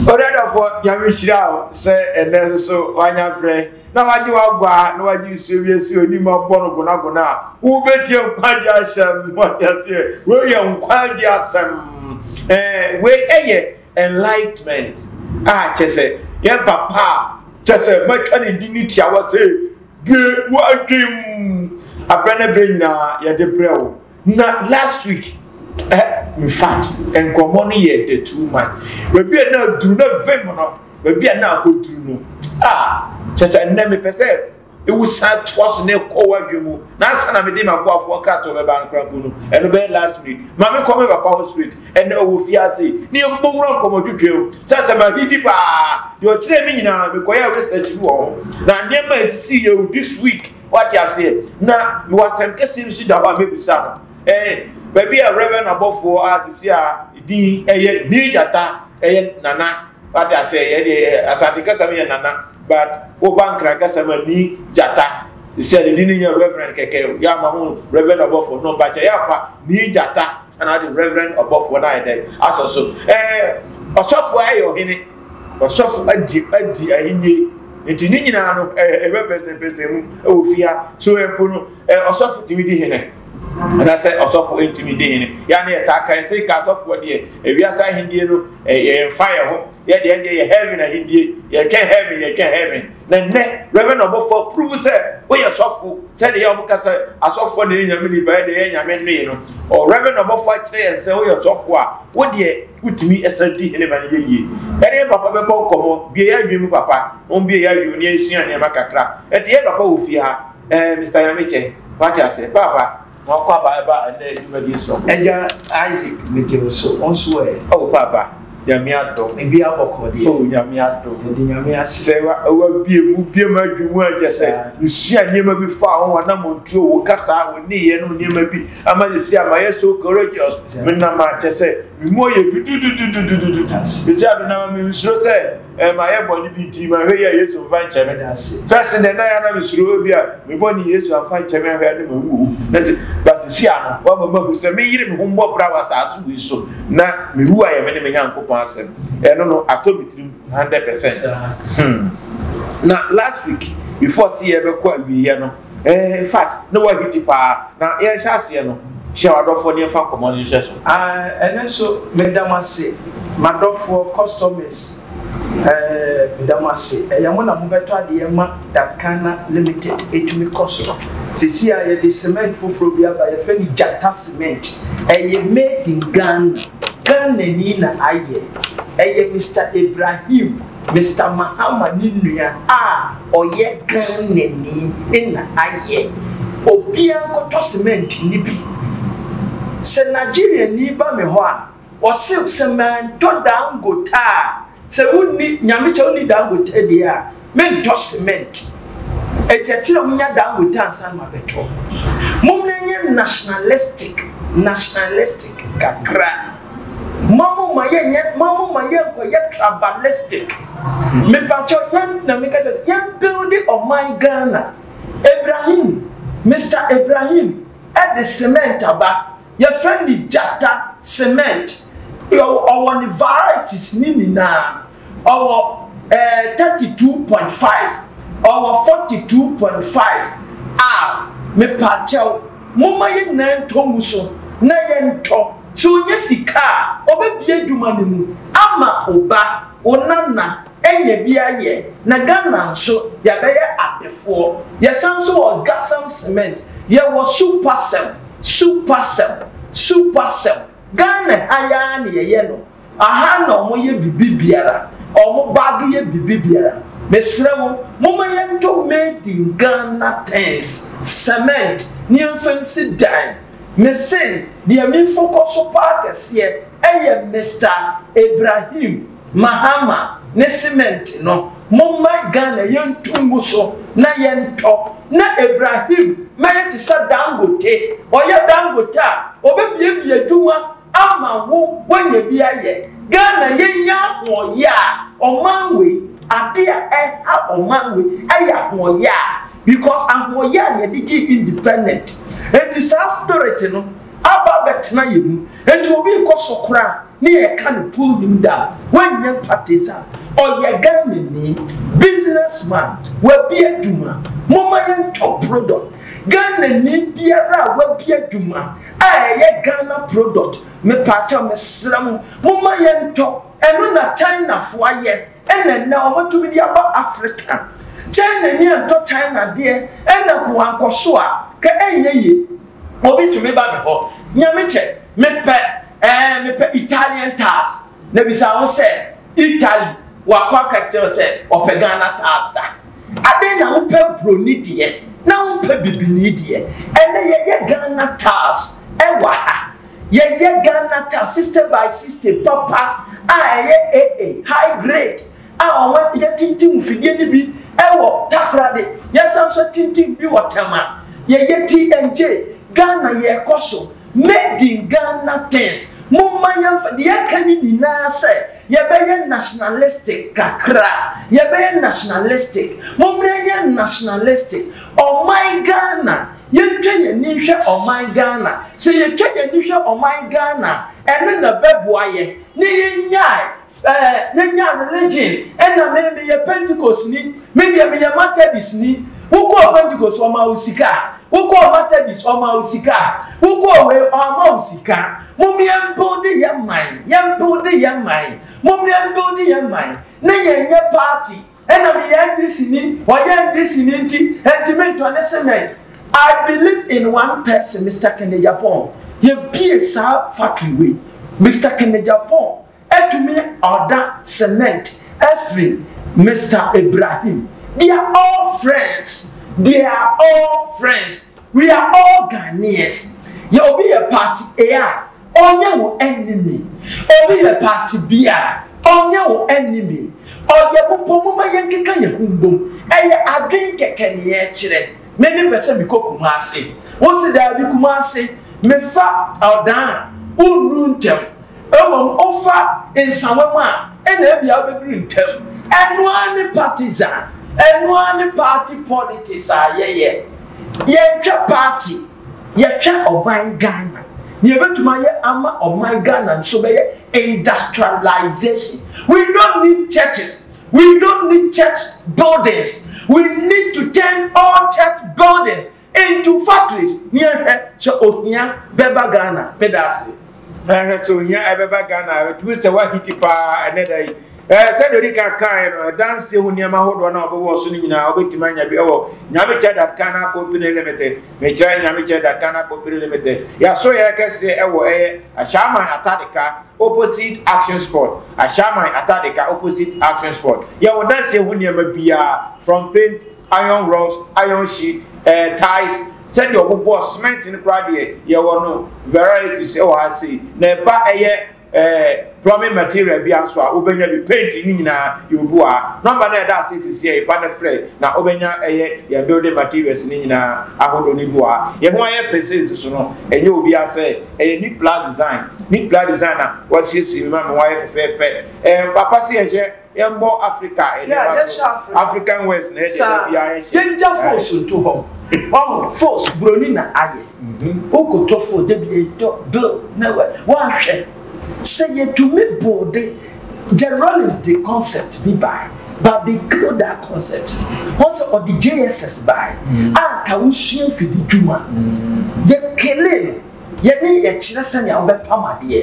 Onuadɔfoɔ Nyame nhyira wo sɛ ɛnɛ nso so wanya berɛ na wagye w'aguaa na wagye nsuo bi asi w'anim abɔ no gonagona a wobɛtie nkwagye asɛm wate aseɛ wei yɛ nkwagye asɛm ɛɛ wei ɛyɛ enlightenment a kyɛ sɛ yɛ papa a kyɛ sɛ matwa ne di ne tiawa sɛ bie w'adwem abrɛ ne berɛ nyinaa yɛde brɛ wo Na last week eh, in fact nkɔmmɔ no yɛ the too much baabi a na aduru na vim no baabi a na akɔduru no a kyɛ sɛ nnɛ mepɛ sɛ ewu san toa so na ɛkɔ wadwe mu na asa na mede m'aboafoɔ nkratɔ bɛba nkorapo no ɛno bɛyɛ last minute maame kɔ me papa hɔ straight ɛnna ɔwɔ fie ase ne yɛbobɔ wura nkɔmmɔdwodwa mu sɛ sɛ mahidi paa deɛ ɔkyerɛ me nyinaa mekɔyɛ research bi wɔ ho na nneɛma a ɛsisi yɛ this week Wate aseɛ? Na mewɔ asɛm kɛseɛ bi so da hɔ a mɛbisa no. Ɛɛ, baabi a Reverend abɔfoɔ a sisi a din ɛyɛ Nii Gyata ɛyɛ Nana. Wate aseɛ? Yɛ deɛ yɛ Asante kasa mu yɛ Nana, but woba Nkran kasa mu a Nii Gyata. Sisi a ne din no nyɛ Reverend kɛkɛ. Yɛ ama ho Reverend abɔfoɔ no, mpakyɛ yɛ afa Nii Gyata. ɛna ade reverend ɔbɔfoɔ no ayɛ dɛ asɔ so ɛɛ ɔsɔfo ayɛ ɔhene ɔsɔfo adi adi ahinie nti ne nyinaa no ɛɛ ɛbɛ pɛsɛpɛsɛ mu ɛwɔ fia so ɛpo no ɛɛ ɔsɔfo tumi di hene anasɛ ɔsɔfo ntumi di hene yɛa ne yɛtaa ka ɛsɛ ka asɔfoɔ deɛ ewiase ahendie no ɛyɛ mfa yɛ ho yɛdeɛ deɛ yɛ heaven ahendie yɛtwɛn heaven yɛtwɛn heaven Na nnɛ, Reverend ɔbɔfo approve sɛ woyɛ sɔfo, sɛnea ɛyɛ a wɔka sɛ asɔfoɔ na ɛyɛ Nyame nipa, ɛnna ɛyɛ Nyame nnoe no. Ɔ Reverend ɔbɔfo akyerɛ yɛn sɛ woyɛ sɔfo a, wo deɛ wotumi san di hene ma no yɛ yie. Yɛne yɛn papa bɛbɔ nkɔmmɔ, bue yɛn adwene mu papa, wɔn bue yɛn adwene mu na yɛnsua nneɛma kakra. Ɛnti yɛn papa wɔ fie ha, ɛɛ Mister Nyamekyɛ, wate aseɛ, paapa, Wɔn kɔ aba ɛba ɛnɛ dwumadie so. Ɛgya Isaac mede wo so wɔn so ɛ. Ɔwɔ kɔ aba nyame adom. Ebi abɔkɔ deɛ. Ɔwɔ nyame adom. Ɛde nyame ase. Sɛ wa ɛwɔ bie mu bie mu adwi mu ɛgya sɛ. Nsua nneɛma bi fa ho wɔn nam wɔn tuo wɔn kasa wɔn ne yɛ nom nneɛma bi ama ne si ama yɛ so courageous. Me nam akyɛ sɛ me mu ɔyɛ dudududududududu. Sisi a me nam a me nsuro sɛ Eh, ma yɛ bɔne bi nti ma hwɛ yi a Yesu mfa nkyɛ me. Fɛs dɛ na yɛ na mesuro obi a me bɔne Yesu amfa nkyɛ me ahwɛ ne ma wu. Na se bate si ano wama mahu sɛ me yere me ho mbɔ bra wɔ asase wei so na mewu ayɛ me ne me Nyankopɔn asɛm. Ɛno no atɔ me tirim 100%. Hmm. Na last week before se yɛbɛkɔ awieɛ no Eh, in fact, na wahiti paa. Na yɛrehyɛ aseɛ no, hyɛ w'adɔfoɔ ne yɛmfa nkɔmmɔ no nhwɛ so. Ah, ɛno nso, meda mo ase, m'adɔfoɔ customers. Eh, meda mo ase. Ɛyɛ mo na mobɛtɔ adeɛ ma Datcana Limited atumi kɔ soro. Seesei ara yɛde cement foforɔ bi aba, yɛfrɛ no Gyata Cement. Ɛyɛ made in Ghana. Ghanani na ayɛ. Ɛyɛ Mister Ibrahim. Mister Mahama ne nua a ɔyɛ Ghanani na ayɛ. Obiara nkɔtɔ cement no bi. Sɛ Nigeriani ba me hɔ a, ɔse sɛ mantɔ Dangote a, sɛ wonni, Nyame kyɛ wonni Dangote deɛ a, mentɔ cement. Enti ɛte dɛ monya Dangote ansa na mabɛtɔ. Mommra nyɛ nationalistic, nationalistic kakra. Mamo ma yɛ nyɛ mamo ma yɛ nkɔ yɛ tribalistic me pakyɛ yɛ na me kɛtɛ yɛ buildi ɔman Ghana Ibrahim Mister Ibrahim ɛde cement aba yɛ fɛ ni gyata cement ɔwɔ ni varieties ni nyinaa ɔwɔ ɛɛ thirty two point five, ɔwɔ forty two point five a, mepaakyɛw, momma yɛn nyinaa ntɔ ngu so na yɛntɔ. Sɛ onya sika a, ɔbɛbie adwuma no mu ama wo ba, wo nana anya bi ayɛ, na Ghana nso yɛabɛyɛ adefoɔ. Yɛsan nso wɔ Gasem Cement, yɛwɔ Supasem, Supasem, Supasem. Ghana ha yi ara na yɛyɛ no. Aha na ɔmo yɛ bibi biara ɔmo bag yɛ bibi biara mesrɛ mo moma yɛntɔ made in Ghana things cement ne yɛnfa nsi dan mese deɛ mefokɔso paa kɛseɛ ɛyɛ Mister Ibrahim Mahama ne cement no moma Ghana yɛntu ngu so na yɛntɔ na Ibrahim mɛyɛ te sɛ Dangote ɔyɛ Dangote a ɔbɛbiebie adwuma ama wo wanya bi ayɛ Ghana yɛnya ahoɔyɛ a ɔman wei ade a ɛha ɔman wei ɛyɛ ahoɔyɛ a because ahoɔyɛ a na yɛde gyee independent enti saa spirit no aba abɛtena yɛn mu enti obi nkɔ so koraa ne yɛka no pull him down wanyɛ parties a ɔyɛ Ghanani business man wabi adwuma momma yɛntɔ product Ghanani biara a wabi adwuma a ɛyɛ Ghana product mepaakyɛw mesrɛ mo momma yɛntɔ ɛno na China fo ayɛ ɛna nnɛ ɔmo atumi de aba Africa China ni antɔ China deɛ ɛna ko ankɔ so a ka ɛnyɛ yie obi tumi ba me hɔ nyame kyɛ mepɛ ɛɛ mepɛ Italian tars na bisa ho sɛ Italy wakɔ aka kyerɛ sɛ ɔpɛ Ghana tars da. Adɛn na wopɛ broni deɛ na wompɛ bibini deɛ ɛnɛ yɛyɛ Ghana tiles ɛwɔ ha yɛyɛ Ghana tiles system by system papa a ɛyɛ AA high grade a wɔn yɛtintim fidie no bi ɛwɔ Takoradi yɛsan so tintim bi wɔ Tema yɛyɛ TNJ Ghana yɛkɔ so made in Ghana things mo mma yɛmfa deɛ ɛka ne nyinaa sɛ Yɛbɛyɛ nationalistic kakra, yɛbɛyɛ nationalistic, mommra yɛnyɛ nationalistic, ɔman Ghana, yɛntwa yɛn ani nhwɛ ɔman Ghana, sɛ yɛtwa yɛn ani hwɛ ɔman Ghana a, ɛno na ɛbɛboa yɛn ne yɛnyae ɛɛ yɛnyae religion, ɛna me meyɛ Pentecostni, me deɛ meyɛ Matɛdisni, wokɔɔ Pentecost wɔmaa wo sika? Wokɔɔ Matɛdis wɔmaa wo sika? Wokɔɔ wei wɔamma wo sika? Mom yɛn builde yɛn man, yɛn builde yɛn man, mom yɛn builde yɛn man, ne yɛn nyɛ party, ɛna meyɛ NDC ni, ɔyɛ NDC ni nti ɛntumi ntɔ ne cement, I believe in one person Mister Kennedy Aponn, yɛbue saa factory wei, Mister Kennedy Aponn Ɛtumi ɔda cement afiri Mister Ibrahim they are all friends they are all friends we are all Ghanaians yɛ obi yɛ party A a ɔnyɛ wo enemy obi yɛ party B a ɔnyɛ wo enemy ɔyɛ wo mpo moma yɛn keka yɛn ho mbom ɛyɛ adwen kɛkɛ ne yɛ kyerɛ me me pɛ sɛ me kɔ Kumasi wo se daabi Kumasi me fa ɔdan a wo nuru ntɛm. Mmom wofa nsawa mu a, ɛna ebia wobɛduru ntɛm. Ɛno ara ne partisan. Ɛno ara ne party politics a yɛyɛ. Yɛntwɛ party, yɛtwɛ ɔman Ghana. Nea yɛbɛtumi ayɛ ama ɔman Ghana nso bɛyɛ industrialization. We don't need churches, we don't need church buildings, we need to turn all church buildings Ntu factories ne yɛnhwɛ sɛ ohia bɛba Ghana. Meda ase. Ɛhwɛ sɛ ohia ɛbɛba Ghana. Ɛtumi sɛ wahiti paa ɛnɛ da yi. Ɛɛ sɛdeɛ odi kan kaeɛ no, ɛdanseɛ ho nneɛma ahodoɔ no a wɔbɛwɔ so no nyinaa wobɛtumi anya bi ɛwɔ Nyamekyɛ Dad Ghana Company Limited. Mekyerɛ Nyamekyɛ Dad Ghana Company Limited. Yɛaso yɛn kɛseɛ ɛwɔ ɛyɛ Ashaiman Atadeka opposite Action Sport. Ashaiman Atadeka opposite Action Sport. Yɛwɔ danseɛ ho nneɛma biara from paint Iron rocks, iron sheet, ɛɛ tiles, sɛdeɛ wɔn bɔ cement no koraa deɛ yɛwɔ no varieties ɛwɔ ha sei na ɛba ɛyɛ ɛɛ plumbing material bi nso a wobɛnya bi paint ne nyinaa yɛ obi wɔ ha nɔmba no ɛda ase sisi yɛ fa no frɛ na wobɛnya ɛyɛ yɛn building materials ne nyinaa ahodoɔ no bi wɔ ha yɛn ho ayɛ fɛ sɛ nsiso no ɛnyɛ obi asɛ ɛyɛ neat plus design neat plus design na wɔasiesie mu ma wɔayɛ fɛfɛɛfɛ ɛɛ papa si ɛhyɛ Yɛmbɔ Africa nneɛma so. African West na ɛdeɛ da biara yɛhyɛ. Yɛngya fos nto hɔ. Ɔho fos buroni na ayɛ. Wokɔtɔ fo da bi yɛtɔ do na wanhwɛ. Sɛ yɛtumi boo de Jerry Rawlings de concept bi bae. But they killed that concept. Wɔn sɛ ɔde JSS bae a ka wosua mfidi dwuma. Yɛkele no. yɛne yɛkyerɛ sɛnea wobɛpam adeɛ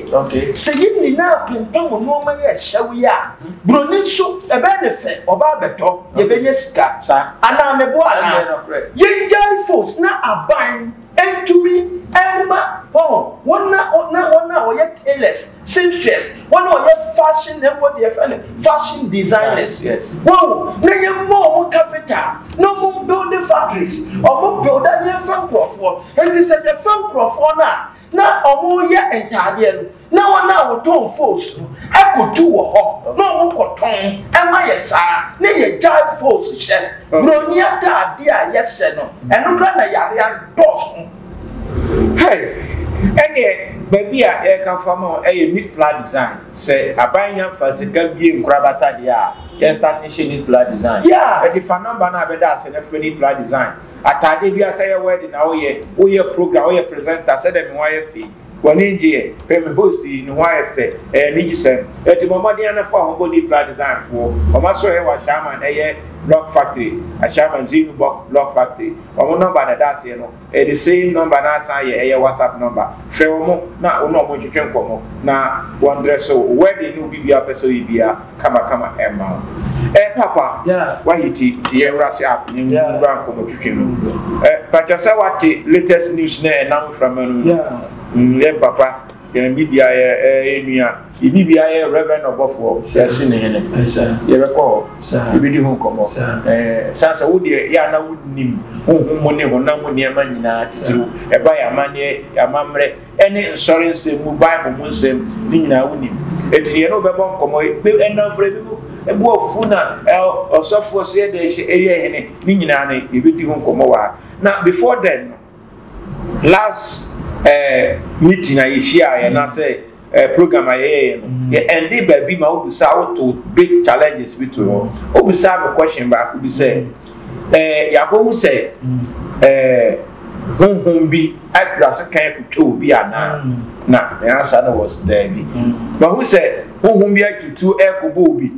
sɛ yɛ nyinaa pempam nnoɔma yɛ ɛhyɛw yi a buroni nso ɛbɛyɛ ne fɛ ɔbaa bɛtɔ yɛbɛnya sika anaa mebo anaa yɛngyae fos na aban ntumi ɛma wɔn na wɔn a wɔyɛ tailors Seamstress, wɔn a wɔyɛ fashion na ɛbɔ deɛ fɛn no fashion designers. Wɔn na yɛ mmɔ wɔn capital na wɔn build the factories, wɔn build a yɛn fɛ nkorɔfoɔ. Nti sɛ yɛ fɛ nkorɔfoɔ no a na wɔn yɛ ntaadeɛ no na wɔn a wɔtɔn folds no ɛkɔ tu wɔ hɔ na wɔn kɔ tɔn ɛma yɛ saa na yɛ gyae folds hyɛ. Broni ataadeɛ a yɛhyɛ no ɛno kora na yare adɔɔso. Hey! Ɛneɛ baabi a yɛreka fa ma wo yɛ Meat Pla Design. Sɛ aban nya fa sika bue nkorabata deɛ a, yɛn start nhyɛ Meat Pla Design. Yeah! Ɛde fa number no a bɛda ase no frɛ Meat Pla Design. Ataadeɛ biara, sɛ yɛ wedding na woyɛ, woyɛ program, woyɛ presenter, sɛdeɛ me ho ayɛ fɛ yi, W'ani ngye ɛ? Hwɛ me host yi, ne ho ayɛ fɛ, ɛyɛ anigyesɛm. Enti bɔ mmɔden ara na fa wo ho bɔ Deeply Design foɔ. Wɔn asɔre a ɛwɔ Ashaiman ɛyɛ Lock Factory, Ashaiman Zeenubɔk Lock Factory. Wɔn number na ɛda aseɛ no, ɛyɛ the same number na asan ayɛ ɛyɛ WhatsApp number. Frɛ wɔn na wo ne wɔn ntwetwe nkɔmmɔ na wɔn dreso wo wedding ne obi biara a wopɛ sɛ woyɛ biara. kama kama ɛmma wo. Eh papa wayɛ ti ti yɛ wura se app ne mu wura nkɔmɔ twitwi mu. Eh pakyɛ sɛ wate latest news na ɛnam mframa no mu. Mm yɛ papa yɛn bi bia yɛ ɛyɛ nua yɛ bi bia yɛ reverend ɔbɔfoɔ yɛsi ne hene yɛbɛkɔ hɔ yɛbɛdi ho nkɔmɔ ɛɛ san sɛ wodeɛ yɛ ana wonim honhom mu ne honam mu nneɛma nyinaa titiriw ɛba yɛ amanneɛ yɛ amammerɛ ne nsɔre nsɛm mu bible mu nsɛm ne nyinaa wonim ɛti deɛ ne wobɛbɔ nkɔmmɔ ɛnamfrɛ bi mu ɛbu afu na ɔsɔfoɔ sɛ yɛde ɛyɛ hene ne nyinaa no yɛbɛdi ho nkɔmmɔ wɔ na before then last eh, meeting a yɛhyia yɛ na sɛ eh, program a yɛyɛyɛ no yɛ ɛnde baabi ma wobisa woto big challenges bi to hɔ wobisa no question baako bi sɛ Ɛɛ yɛakɔhu sɛ ɛɛ honhom bi apira sekan akotwa obi anaa? Na ne ansa no wɔ sɛ daabi. Mahu sɛ honhom bi atutuo ɛrekɔbɔ obi.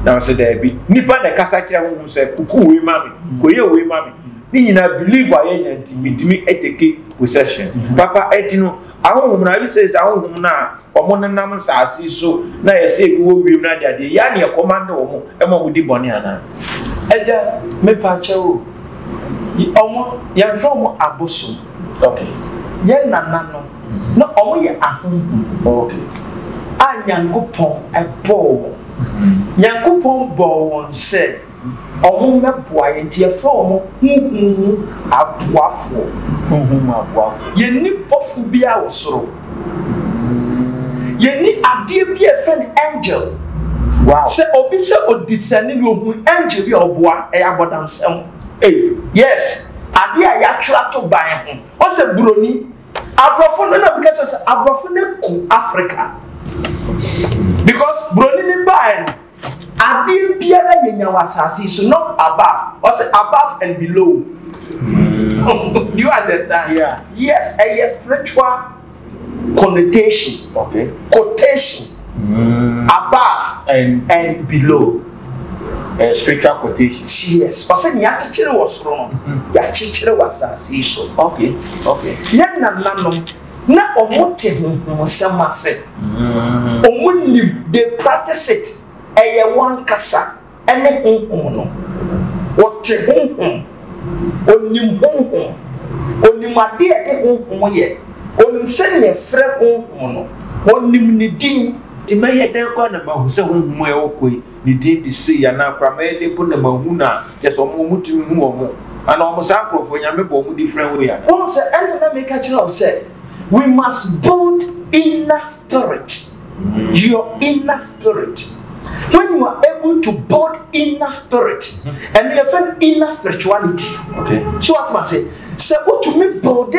Na sɛ daabi. Nipa na ɛkasa kyerɛ honhom sɛ kuku wei ma me, kɔyɛ wei ma me. Ne nyinaa belief a yɛnya nti metumi ɛteke possession. Papa ɛti no ahonhom no are you saying sɛ ahonhom no a Wɔn nenam nsaase yi so no ayɛ sɛ ebi wɔ wiem no adeadeɛ. Yɛ a na yɛkɔmande wɔn ma wɔdi bɔne anaa? Agya, mepaakyɛ o, wɔn, yɛmfrɛ wɔn abosom. Okay. Yɛn nananom, na wɔyɛ ahonhom. Okay. A Nyankopɔn bɔɔ wɔn. Nyankopɔn bɔɔ wɔn sɛ. Wɔmmɛboa yɛn nti yɛfrɛ wɔn honhom mu aboafoɔ. Honhom mu aboafoɔ. Yɛnni bɔfo biara wɔ soro. Yɛnni adeɛ bi a yɛfrɛ no angel. Wow. Sɛ obi sɛ odisɛne bi ohun angel bi a ɔboa ɛyɛ abɔdamsɛm. Hey. Yes, adeɛ a yɛatwerɛ ato ban ho. Ɔsɛ buroni. Aborɔfo no na bi ka kyerɛ sɛ aborɔfo no aku Africa because buroni no baeɛ no. Adeɛ biara yɛnya wɔ asase yi so not above ɔsɛ above and below do you understand yeah. yes ɛyɛ spiritual connotation okay. quotation mm. above and, and below uh, spiritual quotation yes ɔsɛ nea akyekyere wɔ soro no mm-hmm. yɛakyekyere wɔ asase yi so okay. okay. yɛn nananom na ɔmo te honhom nsɛm ase ɔmo nim they practice it ɛyɛ wankasa ɛne honhom no ɔte honhom ɔnim honhom ɔnim adeɛ ɛde honhom yɛ ɔnim sɛdeɛ yɛfrɛ honhom no ɔnim ne din. Nti mɛyɛ dɛn koraa na mahu sɛ honhom a ɛwɔ kɔ yi ne din de sei anaa koraa mɛyɛ ne bo na mahu no a, kyerɛ sɛ wɔn tirim hu wɔn. Anaa wɔn saa nkurɔfoɔ, Nyame bɔ wɔn different way a. Woahu sɛ ɛna na meka kyerɛ wo sɛ we must build inner spirit, your inner spirit. When you are able to build inner spirit, ɛno yɛfɛ no inner spirituality. Okay. So what must say? Sɛ wotumi build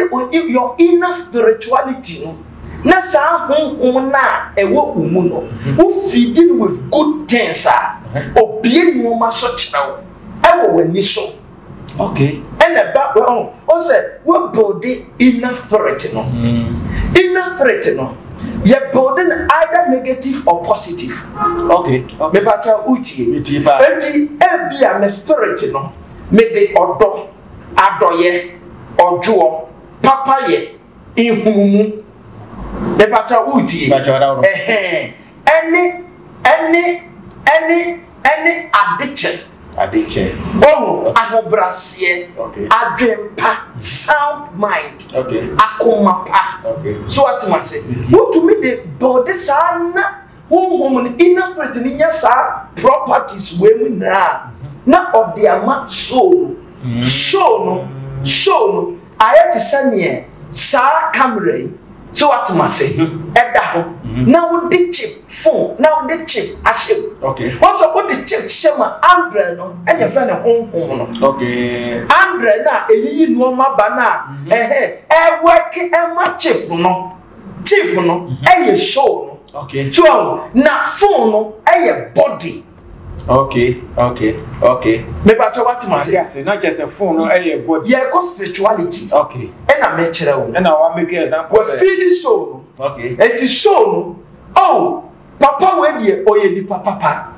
your inner spirituality no. na saa honhom no a ɛwɔ wo mu no, wo feedi no with good things a, obie nneɛma so kyerɛ wo ɛwɔ w'ani so. Okay. Ɛna ɛba wɔn o sɛ wɔbuilde inner spirit no. Mm. Inner spirit no yɛ builde no either negative or positive. Okay. okay. Mepa kyɛ utie. Utie paa. Eti ebi a me spirit no me de ɔdɔ, adɔyɛ, ɔdwoɔ, papayɛ. nhunumu mepakyɛ woretie ɛhɛn ɛne ɛne ɛne ɛne adekyɛ adekyɛ ɔho ahobraseɛ adwempa sound mind akoma pa so atem ase wotumi de bɔde saa na Honhom no, inner spirit no nya saa properties wei mu nyinaa na ɔde ama soul no. Mm. Soul no, soul no ayɛ te sɛ neɛ saa camera yi sɛ watoma ase mm-hmm. ɛda hɔ mm-hmm. na wode chip phone na wode chip ahyɛ mu wɔn sɛ wode chip hyɛ mu a andrɛ no ɛna ɛfɛ ne honhom no andrɛ no a ɛyiyi nneɛma ba no a ɛhɛ ɛwɛke ɛma chip no. Chip no ɛyɛ soul no. Okay. So na phone no ɛyɛ body. Okay, okay, okay. Meba kyɛ wate ma se. Ase na kyɛ phone no ɛyɛ body. Yɛ kɔ spirituality. Okay. Ɛna mɛ kyerɛ wo. Ɛna wa make example. Wa feel soul no. Okay. Eti soul no. Oh, papa wo ɛdeɛ ɔyɛ nipa papa.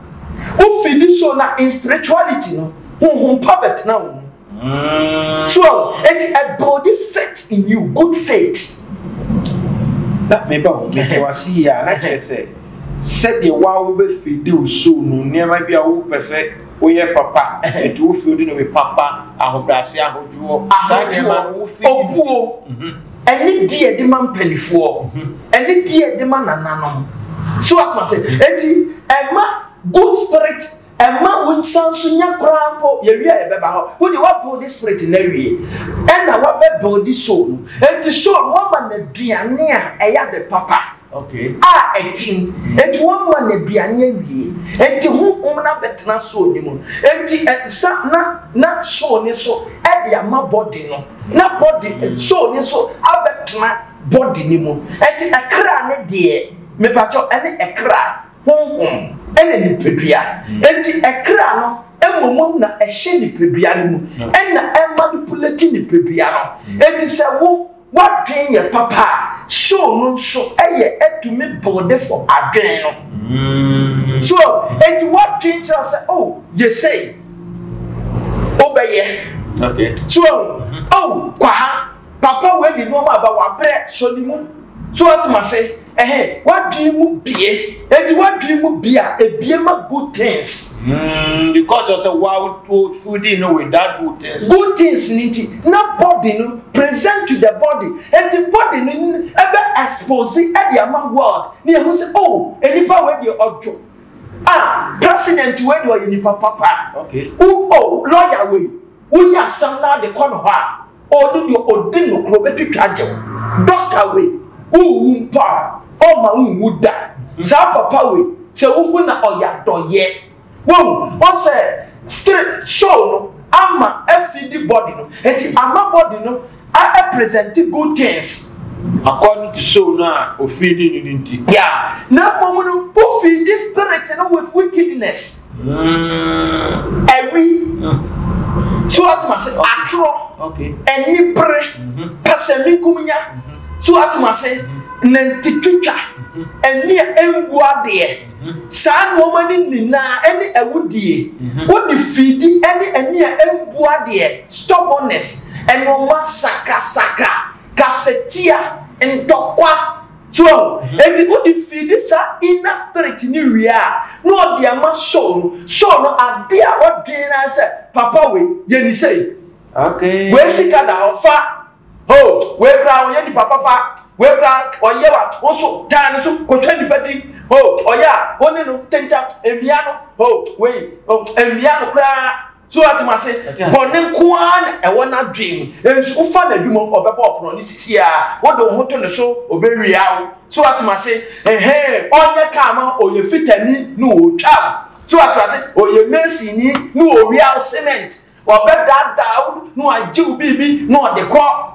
Wo feel soul na in spirituality no. Honhom pa bɛtena wo mu. Twelve, eti ɛ buildi faith in you, good faith. Na me ba o, me te wase yie a, na kyerɛ sɛ sɛdeɛ wo a wobɛfiidi wo so no nneɛma bi a wopɛ sɛ woyɛ papa, ɛti wofiidi no bi papa, ahobrɛase, ahodwoɔ, saa nneɛma no wofiidi. Obuo, mhm. ɛne di ɛde ma mpanifoɔ, mhm. ɛne di ɛde ma nananom. So atoma sɛ, eti ɛma good spirit Ɛmma wo nsa nso nya koraa mpo, yɛwie a yɛbɛba hɔ. Wo deɛ woabuilde spirit no awie, ɛna woabɛbuilde soul no. Enti soul no woama no aduane a ɛyɛ ade papa a ɛtim. Enti woama no aduane awie, enti honhom no abɛtena soul no mu. Enti sa na na soul no nso de ama body no, na body soul no nso abɛtena body no mu. Enti ɛkra no deɛ, mepakyɛw, ɛne ɛkra. Honhom na nipadua, enti ɛkra no mmomam na ɛhyɛ nipadua no mu na ɛmanipuleti nipadua no. Enti sɛ wo w'adwene yɛ papa a, soul no nso yɛ ɛtumi builde fo adwene no. So enti w'adwene kyerɛ sɛ oh yɛ sei, wobɛyɛ. So oh kwaha. Papa wei de nnoɔma aba wabrɛ sɔ ne mu so wate mase ɛhɛ wadwene mu bie eti wadwene mu bie a ebie ma good things. Mm, because ɔsɛ wa o fooding no with that good things. Good things ni ti na body no present to the body eti body no ɛbɛ expose ɛde ama world ne ehu sɛ oh enipa wei deɛ ɔdwo ah president wei deɛ ɔyɛ nipa papa. Okay. O oh, lawyer wei wonya asɛm na ade kɔ ne hɔ a. Ɔno deɛ ɔdi nokorɛ ɔbɛtwitwa agye wo. Dɔkta wei, wonwu mpo a, ɔmma wonwu da. Saa papa wei, sɛ wohu no a, ɔyɛ adɔeɛ. Wahu? Wahu sɛ stri show no ama afidi body no, enti ama body no a ɛpresɛnte good things. According to show no a ofidi no no nti. Yeah, na mmom no, wofidi spirit no with wickedness. Awi, so ate mu ase, atorɔ, anibere, pɛsɛmenkominya, so ate mu ase, nantitwitwa, ani a ɛmmu adeɛ, saa nnoɔma no nyinaa ɛne awudie, wode fiidi ɛne ani a ɛmmu adeɛ, stubbornness, nnoɔma sakasaka, kasatia, ntɔkwa, Joel, enti ode fiidi saa inner spirit no wie a, na ɔde ama Saul no, Saul no ade a ɔdwen ara ne sɛ, papa wei, yɛ no sei, wei sika da hɔ, fa, oh, wei koraa ɔyɛ nipa papa, wei koraa ɔyɛ wa, wo nso taa ne so kɔtwa nipa ti, oh, ɔyɛ a, wo ne no tentam, mmia no, oh, wei, oh, mmia no koraa. So ate mo ase? Bɔne nko ara na ɛwɔ n'adwene mu. Nso wofa n'adwuma mu, ɔbɛbɔ ɔpono no sisi a, wode wo ho to ne so, ɔbɛwia wo. So ate mo ase? Ɛhɛn, ɔnyɛ kaa ma wo, ɔyɛ fitani na ɔretwa wo. So ate mo ase? Ɔyɛ masonni na ɔwia wo cement. Ɔbɛdaadaa wo na wagye wo biribi na ɔde kɔ.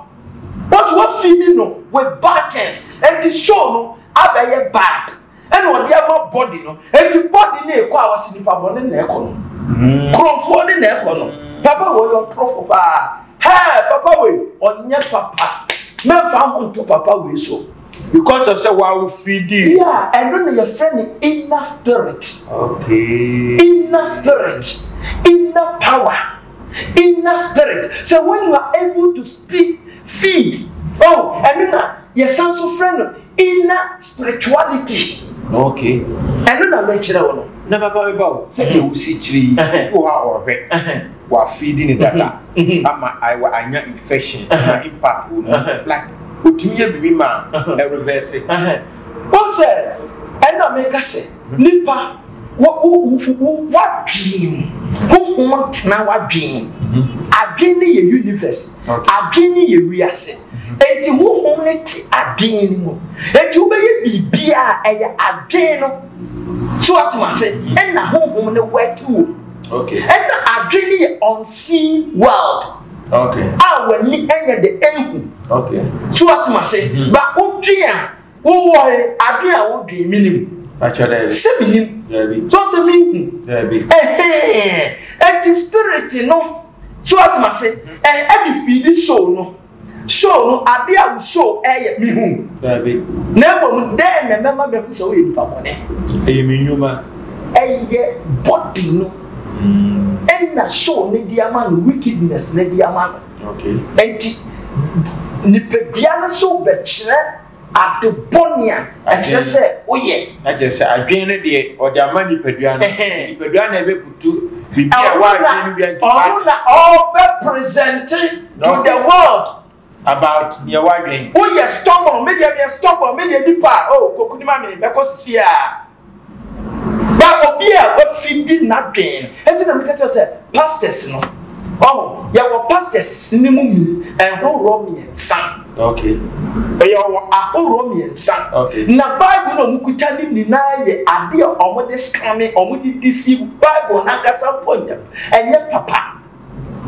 Wɔsi wafeedi no with bad things. Enti show no abɛyɛ bad. ɛna ɔde ama body no eti body no ekɔ a wɔsi nipa bɔ ne na ɛkɔ no mm. kurɔfoɔ ne na ɛkɔ no papa wɔ yɛ ɔtorofo paa hɛɛ papa wɔ yi ɔnyɛ papa mɛnfa ho nto papa wɔ yi so. because of sɛ wawo fidi. yeah ɛno na yɛfrɛ no inner spirit. okay inner spirit inner power inner spirit so when you are able to speak feed oh ɛno na yɛsan so frɛ no. Inner spirituality. Okay. Ɛno na mɛkyerɛ wo no. Na papa mi ba o, sɛdeɛ wosi kyerɛ yi, bi wɔ hɔ a ɔhwɛ, wafeedi ne dada, ama ayɛ anya infection, ama impact wɔ mu, like otumi yɛ biribi ma ɛrevɛse. Wɔn sɛ, ɛna meka sɛ. Nipa, wo wo w'adwene mu, honhom ntena w'adwene mu. Adwene no yɛ universe, adwene no yɛ wiase. Enti honhom no te adwene no mu. Enti wobɛyɛ biribi a ɛyɛ adwene no. So wate m'ase? Ɛna honhom no work wɔ mu. Ɛna adwene no yɛ unseen world. Okay. A w'ani ɛnyɛ de ɛnhu. Okay. So wate m'ase? Ba wodwen a. Wowɔe, ade a wodwen minim. Sɛ minim, so ɔte minhu. Ɛhɛɛ, enti spirit no, so wate m'ase, ɛde fiidi soul no, soul no, ade a wo soul ɛyɛ, mihu. Na mmom dɛn na ɛbɛma mahu sɛ woyɛ nipa bɔne? Ɛyɛ me nnwuma. Ɛyɛ body no, ɛna soul no de ama no, wickedness no de ama no. Enti, nipadua no nso bɛkyerɛ ade bɔne a ɛkyerɛ sɛ woyɛ. Na kyerɛ sɛ adwene no deɛ ɔde ama nipadua no. Nipadua na ɛbɛbutu biribi a ɛwɔ adwene no bia ntumi ade. Ɔno na ɔbɛpresente to the world. About deɛ woadwene. Woyɛ stubborn, me deɛ meyɛ stubborn, me deɛ nipa a, oh, kokunim a me, mɛkɔ sisi a. Ba obi a wafi di n'adwen. Enti na meka kyerɛ sɛ pastors no. Ɔho, yɛwɔ pastors ne mu mi ɛhoroɔ mmiɛnsa. Okay. Yɛwɔ ahoroɔ mmiɛnsa. Okay. Na Bible na wɔn kuta ne nyinaa yɛ adeɛ a wɔn de scammy, wɔn de deceive Bible n'ankasa mpo nyɛ ɛnyɛ papa.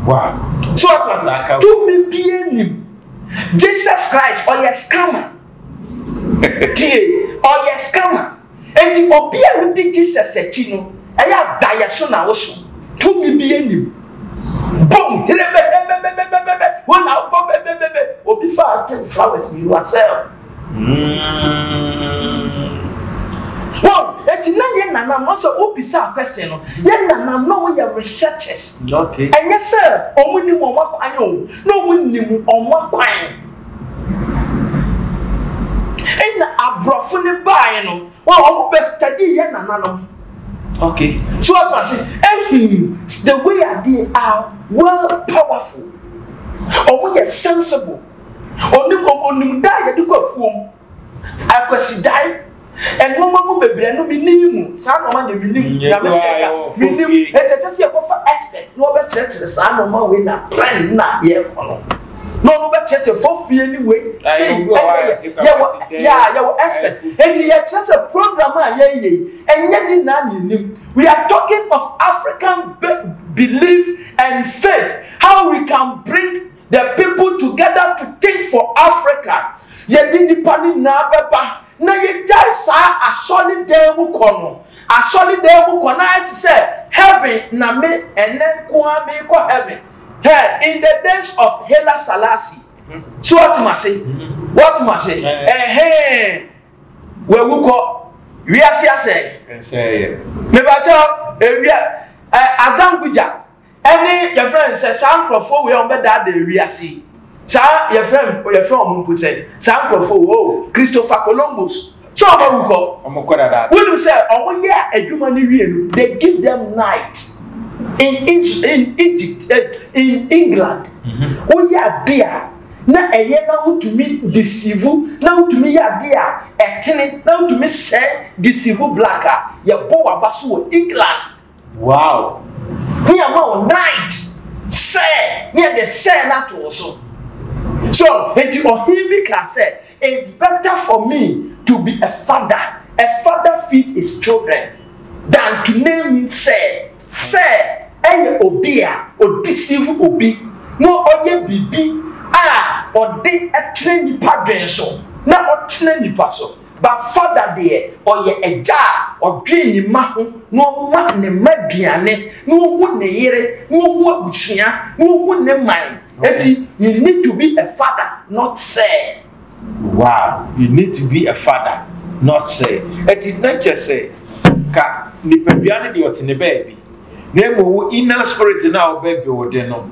Wow. So what was that? Tumi bie nim. Jesus Christ ɔyɛ scammer. Tie, ɔyɛ scammer. Enti obi a wodi Jesus akyi no ɛyɛ a daeɛso na woso. Tumi bi nnim. Bom herebɛbɛbɛbɛbɛbɛbɛ wo na wobɔ bɛbɛbɛbɛ. Obi fa atem flowers mmienu a sell. Wow, enti na yɛn nana no sɛ wobisa a question no, yɛn nana no wɔn yɛ researchers. Ɛnyɛ sɛ wɔn nim wɔn akwan o, na wɔn nim wɔn akwan. Nna aborɔfo no bae no, wɔn bɛ study yɛ nananom. Okay. So what I say, ehun the way that they are well powerful. Wɔn yɛ sensible. Onim onim da yɛde kɔ afuom. A Kwasidae, nnoɔma mu bebree no menim mu, saa nnoɔma deɛ menim, nyame sɛ ɛka, menim, ɛnti ɛkyɛ sɛ yɛkɔfa expert na ɔbɛkyerɛkyerɛ saa nnoɔma wei na plan na yɛkɔ no na ɔno bɛkyerɛkyerɛ fofie ne wei sei ɛnɛ yɛwɔ yɛ yɛwɔ expert nti yɛkyerɛ sɛ program a yɛyɛ yi ɛnyɛ ne nyinaa na yɛnim we are talking of African belief and faith how we can bring The people together to think for Africa yɛde nipa no nyinaa bɛba na yɛgyae saa asɔre dan mu kɔ no asɔre dan mu kɔ na ayɛ te sɛ heaven na me ɛnɛ nko ara merekɔ heaven hɛ in the days of Hela Salasi so wɔte ma se wɔte ma se ɛhɛn wɔawu kɔ wiase asɛe mebakyɛ ewia azangugya Ɛne, yɛfrɛ no sɛ, saa nkorɔfoɔ wei a wɔbɛdaadaa wiase yi, saa, yɛfrɛ no, yɛfrɛ wɔn mpo sɛ, saa nkorɔfoɔ wei, oh, Christopher Columbus, sɛ wɔn awu kɔ? Wɔn kɔ dada. Wonim sɛ, wɔn yɛ adwuma no wie no, they give them night in Is, in Egypt, eh, in England, mm-hmm. woyɛ adeɛ a, na ɛyɛ na wotumi deceive, na wotumi yɛ adeɛ a, ɛtene, na wotumi sɛe deceive black a, yɛbɔ waba so wɔ England. Wow! Ne ama wo night sɛɛ, ne yɛde sɛɛ no ato wo so. So, enti ɔhene bi kaa sɛ, It's better for me to be a father, a father feed his children, than to name me sɛɛ. Sɛɛ yɛ obi a ɔdeceive obi na ɔyɛ biribi a ɔde kyerɛ nnipa dwen so na ɔtena nnipa so. Ba Fada deɛ ɔyɛ agya a ɔdwen ne mma ho na ɔma ne mma aduane na ɔhu ne yere na ɔhu abusua na ɔhu ne man nti you need to be a father not sir. Wow you need to be a father not sir ɛti na kyɛsɛ ka nipadua no deɛ ɔte ne baabi. na mmom wo inner spirit no a wobɛbuild de no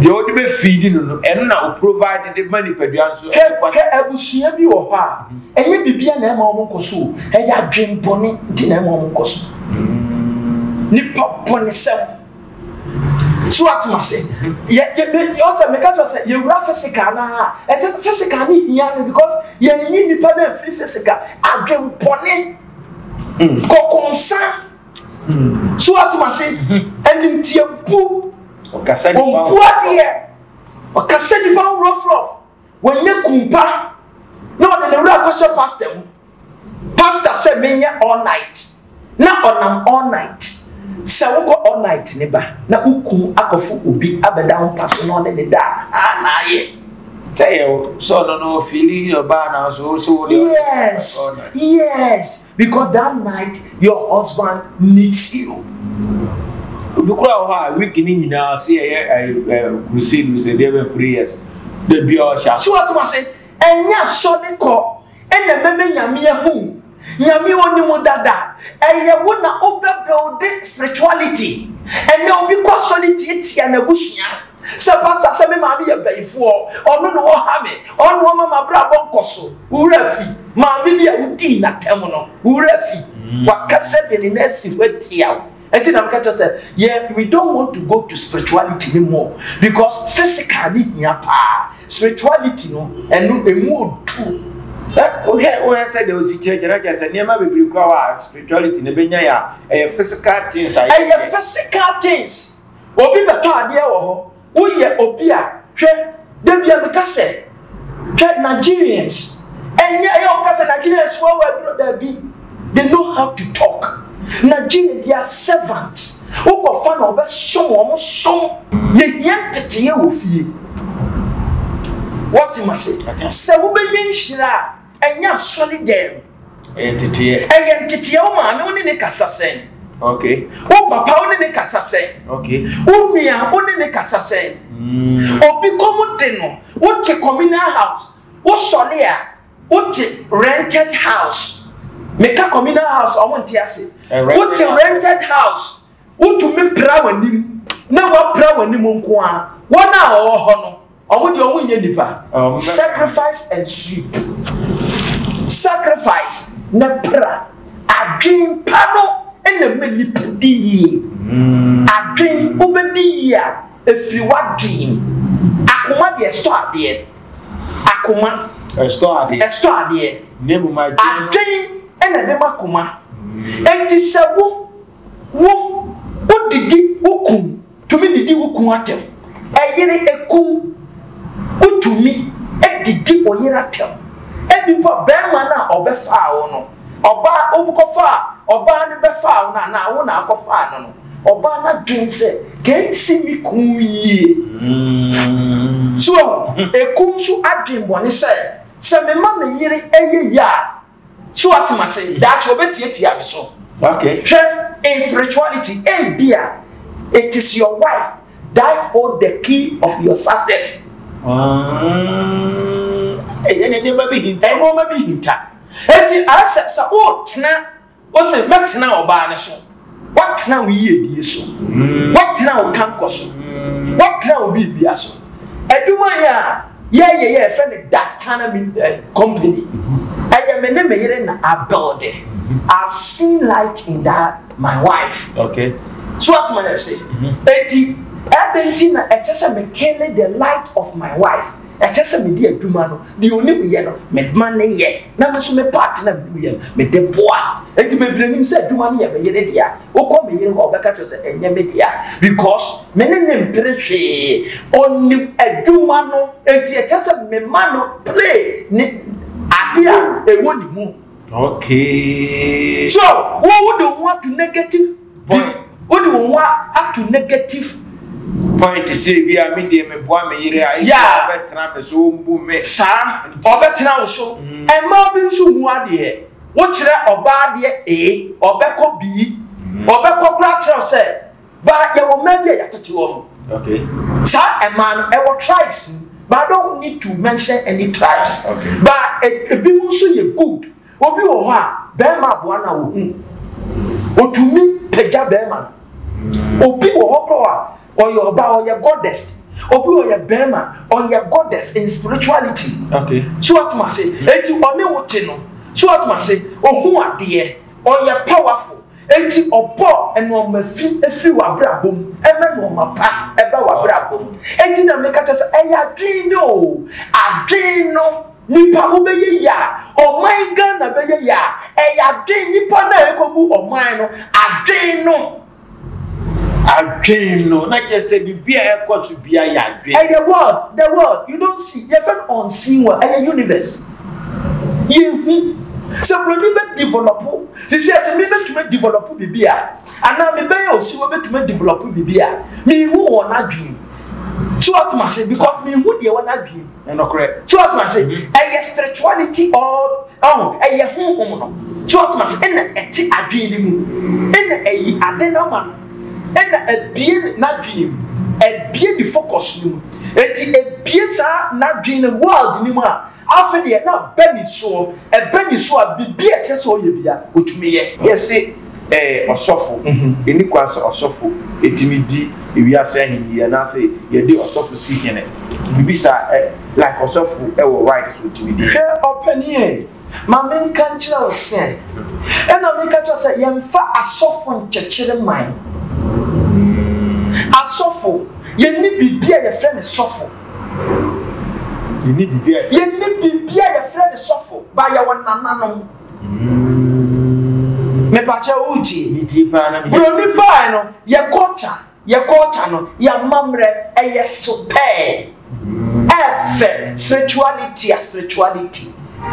deɛ wode bɛ feed no no ɛno na o provide de ma nipadua no so. hwɛ abusua bi wɔ hɔ a ɛnyɛ biribi a na ɛma wɔn nkɔ so o ɛyɛ adwene bɔne nti na ɛma wɔn nkɔ so mm. nipa bɔne sɛm so atum ase yɛ yɛ bɛ ɔtɛ mɛ kájọ sɛ yɛ wura physical naa ɛtɛ sɛ physical ni hia mi because yɛ ni nipa náà fi physical adwempɔni kɔkɔnsa. so atom ase animtiabu ɔmpo adeɛ ɔkasa nipa ho rɔfrɔf wɔnyɛ kumpa na ɔde ne wura kɔhyɛ pasta mu pasta sɛ menyɛ all night na ɔnam all night sɛ wokɔ all night ne ba na wokum akɔfo obi abɛda wo mpa so na ɔne ne da a na ayɛ sɛ yɛ sɛ ɔno no fili ɔbaa na so so yes yes because that night Your husband needs you. Obi kura wɔ hɔ a week ne nyinaa sɛ yɛyɛ ɛyɛ eh, eh, crusade sɛ deɛ bɛ prayers da bi a ɔhyɛ ase. So wɔte ma se ɛnyɛ asɔre kɔ ɛna mɛmɛ nyame ahu nyame wɔne mu dada ɛyɛ wo na wobɛbɛwde spirituality ɛnɛ obi kɔ asɔre tiatia n'abusua Sɛ pastor sɛ me maame yɛ bayifoɔ, ɔno na ɔha me, ɔno na ɔma m'abrabɔ nkɔso. Wo werɛ afi maame bi a wodii n'atɛm no? Wo werɛ afi? Waka sɛdeɛ ne nan si hɔ atia wo. Ɛnti na meka kyerɛ sɛ yɛ we don't want to go to spirituality no mu because physical no hia paa. Spirituality no ɛno ɛmu ɔduru. Sɛ wohwɛ wohwɛ sɛdeɛ ɔsi kyerɛkyerɛ kyerɛ sɛ nneɛma bebree kura hɔ a spirituality no bɛnya yɛ a ɛyɛ physical things a yɛyɛ. Ɛyɛ physical things. Obi bɛtɔ adeɛ wɔ hɔ, woyɛ obi a hwɛ da bia meka sɛ hwɛ Nigerians ɛnyɛ ɛyɛ ɔka sɛ Nigerians fo awɔ aduro daabi they know how to talk Nigerian they are servants wokɔ fa na ɔbɛ som wɔn som yɛhia nteteyɛ wɔ fie wɔte ma se sɛ wobɛnya nhyira a Ɛnyɛ aso ne dɛm. Ɛyɛ nteteɛ. Ɛyɛ nteteɛ wo maame wo ne ne kasa sɛn. Okay. Wo papa wo ne ne kasa sɛn. Okay. Wo nua wo ne ne kasa sɛn. Mm. Obi kɔm de no wo te communal house wo sɔre a wo te rented house meka communal house ɔmo nte ase wo te rented house wotumi pra w'anim na wapra w'anim nko a wɔn a wɔwɔ hɔ no. Ɔmo deɛ ɔmo nyɛ nipa. Sacrifice and sweep. Sacrifice ne pra. Adwen pa no na ɛma nipa di yie. Hmm. Adwen wobɛdi yie a ɛfiri w'adwen. Akoma deɛ ɛsɔ adeɛ. Akoma ɛsɔ adeɛ. Ɛsɔ adeɛ. Adwen ɛna ɛde ma akoma. Enti sɛ wo wo wodidi wo kum tumi didi wo kun atɛm. Ɛyere ekum wotumi didi ɔyere atɛm. Ebi mpo a bɛɛma no a ɔbɛfaa wo no ɔbaa wokɔfaa ɔbaa no bɛfaa wo no anaa wo na akɔfaa no no ɔbaa no adwen sɛ kɛnsi me kun yie. So ekum so adwen bɔne sɛ sɛ mema me yere ɛyɛ yie a So wate mase? Daakye obetiatia me so. Okay. Hwɛ, in spirituality, ebia it is your wife that hold the key of your success. Ɛyɛ ne nneɛma bi hinta. Nneɛma bi hinta. Eti asɛ sɛ o tena, o sɛ mɛtena ɔbaa ne so. Woatena wo yiedie so. Woatena wo kankɔ so. Woatena wo biribia so. Adwuma yɛ a yɛyɛ yɛ ɛfɛ no that kind of eh, company. Ɛyɛ me ne me yere na abɛɔde. I've seen light in that my wife. Okay. So what man say? Eti ɛbɛn ti na ɛkyɛ sɛ me kele the light of my wife. Ɛkyɛ sɛ me di adwuma no. Deɛ onim yɛ no, mema no yɛ, na me nso me part na mede yɛ no, mede boa. Enti mebiri anim sɛ adwuma no yɛ me yere dea. Wokɔ me yere hɔ a, ɔbɛka kyerɛ wo sɛ ɛnyɛ me dea because me ne no mpere hwee. Ɔnim adwuma no, enti ɛkyɛ sɛ mema no play ne ade a ɛwɔ ne mu. Okay. So, wo wode wo ho ato negative. Point. Wode wo ho ato negative. Point te sɛ ebi a me deɛ meboa me yere a ebi a ɔbɛtena me so ɔmbu me. Saa ɔbɛtena wo so. Mmaa bi nso hu adeɛ. Wokyerɛ ɔbaa adeɛ A, ɔbɛkɔ B, ɔbɛkɔ koraa kyerɛ wo sɛ baa yɛwɔ mmaa bi a yɛatete wɔn. Okay. Saa mmaa no ɛwɔ tribes mu but I don't need to mention any tribes. Okay. But ebinom nso yɛ good. Obi wɔ hɔ a, bɛrima aboa no a ohu. Otumi pagya bɛrima no. Obi wɔ hɔ kɔ a, ɔyɛ ɔbaa, ɔyɛ goddess. Obi ɔyɛ bɛrima, ɔyɛ goddess in spirituality. Okay. So atum ase. Eti ɔne wo te no. So atum ase. Ohu adeɛ. Ɔyɛ powerful. Eti ɔbɔ nneɛma fi efiri w'abrabɔ mu. Ɛmɛ nneɛma pa ɛba w'abrabɔ mu. Eti na meka kyɛ sɛ ɛyɛ adwene no o. Adwene no Nipa ho bɛyɛ yie a, ɔman Ghana bɛyɛ yie a, ɛyɛ adwen nipa no a ɛkɔbu ɔman no, adwen no. Adwen no, na kyerɛ sɛ biribi a ɛkɔ so biara yɛ adwen. Ɛyɛ world, the world, you don't see, yɛfrɛ no unseen world, ɛyɛ universe, yɛnhu. Sɛ buroni bɛ develop, te sɛ sɛ me bɛtumi a develop biribi a, anaa me bɛyɛ osiwɔ bɛtumi a develop biribi a, menhu wɔn adwen. So atoma se, because menhu deɛ wɔn adwen. Ne nokorɛ. So ɔtoma ase? Ɛyɛ spiritual ne ti all ɔho ɛyɛ honhom no. So ɔtoma ase? Ɛna ɛte adwene ne mu. Ɛna ɛyi ade no ama no. Ɛna ɛbie n'adwene mu. Ɛbie ne focus no mu. Ɛti ɛbie saa n'adwene no world no mu a, afe deɛ na bɛ ne soɔ. Ɛbɛ ne so a, bibi ɛkyɛ sɛ ɔyɛ bia, ɔtumi yɛ. Yɛse Ɛɛ, ɔsɔfo. Enni kwan sɛ ɔsɔfo tumi di wiase ahenni yi anaasɛ yɛde ɔsɔfo si hene. Mibisa ɛ, like ɔsɔfo wɔ right sɛ otumi di hene? Hwɛ ɔpanyin ei, ma menka nkyerɛ wo sɛ, ɛna meka kyerɛ wo sɛ yɛmfa asɔfo nkyekyere man. Asɔfo, yenni biribi a yɛfrɛ no sɔfo. Yenni biribi a yɛfrɛ no sɔfo, but yɛwɔ nananom. mepakyɛ wotie buroni bae no yɛ kɔkya yɛ kɔkya no yɛ amammerɛ ɛyɛ sopɛɛ ɛfɛ spirituality a spirituality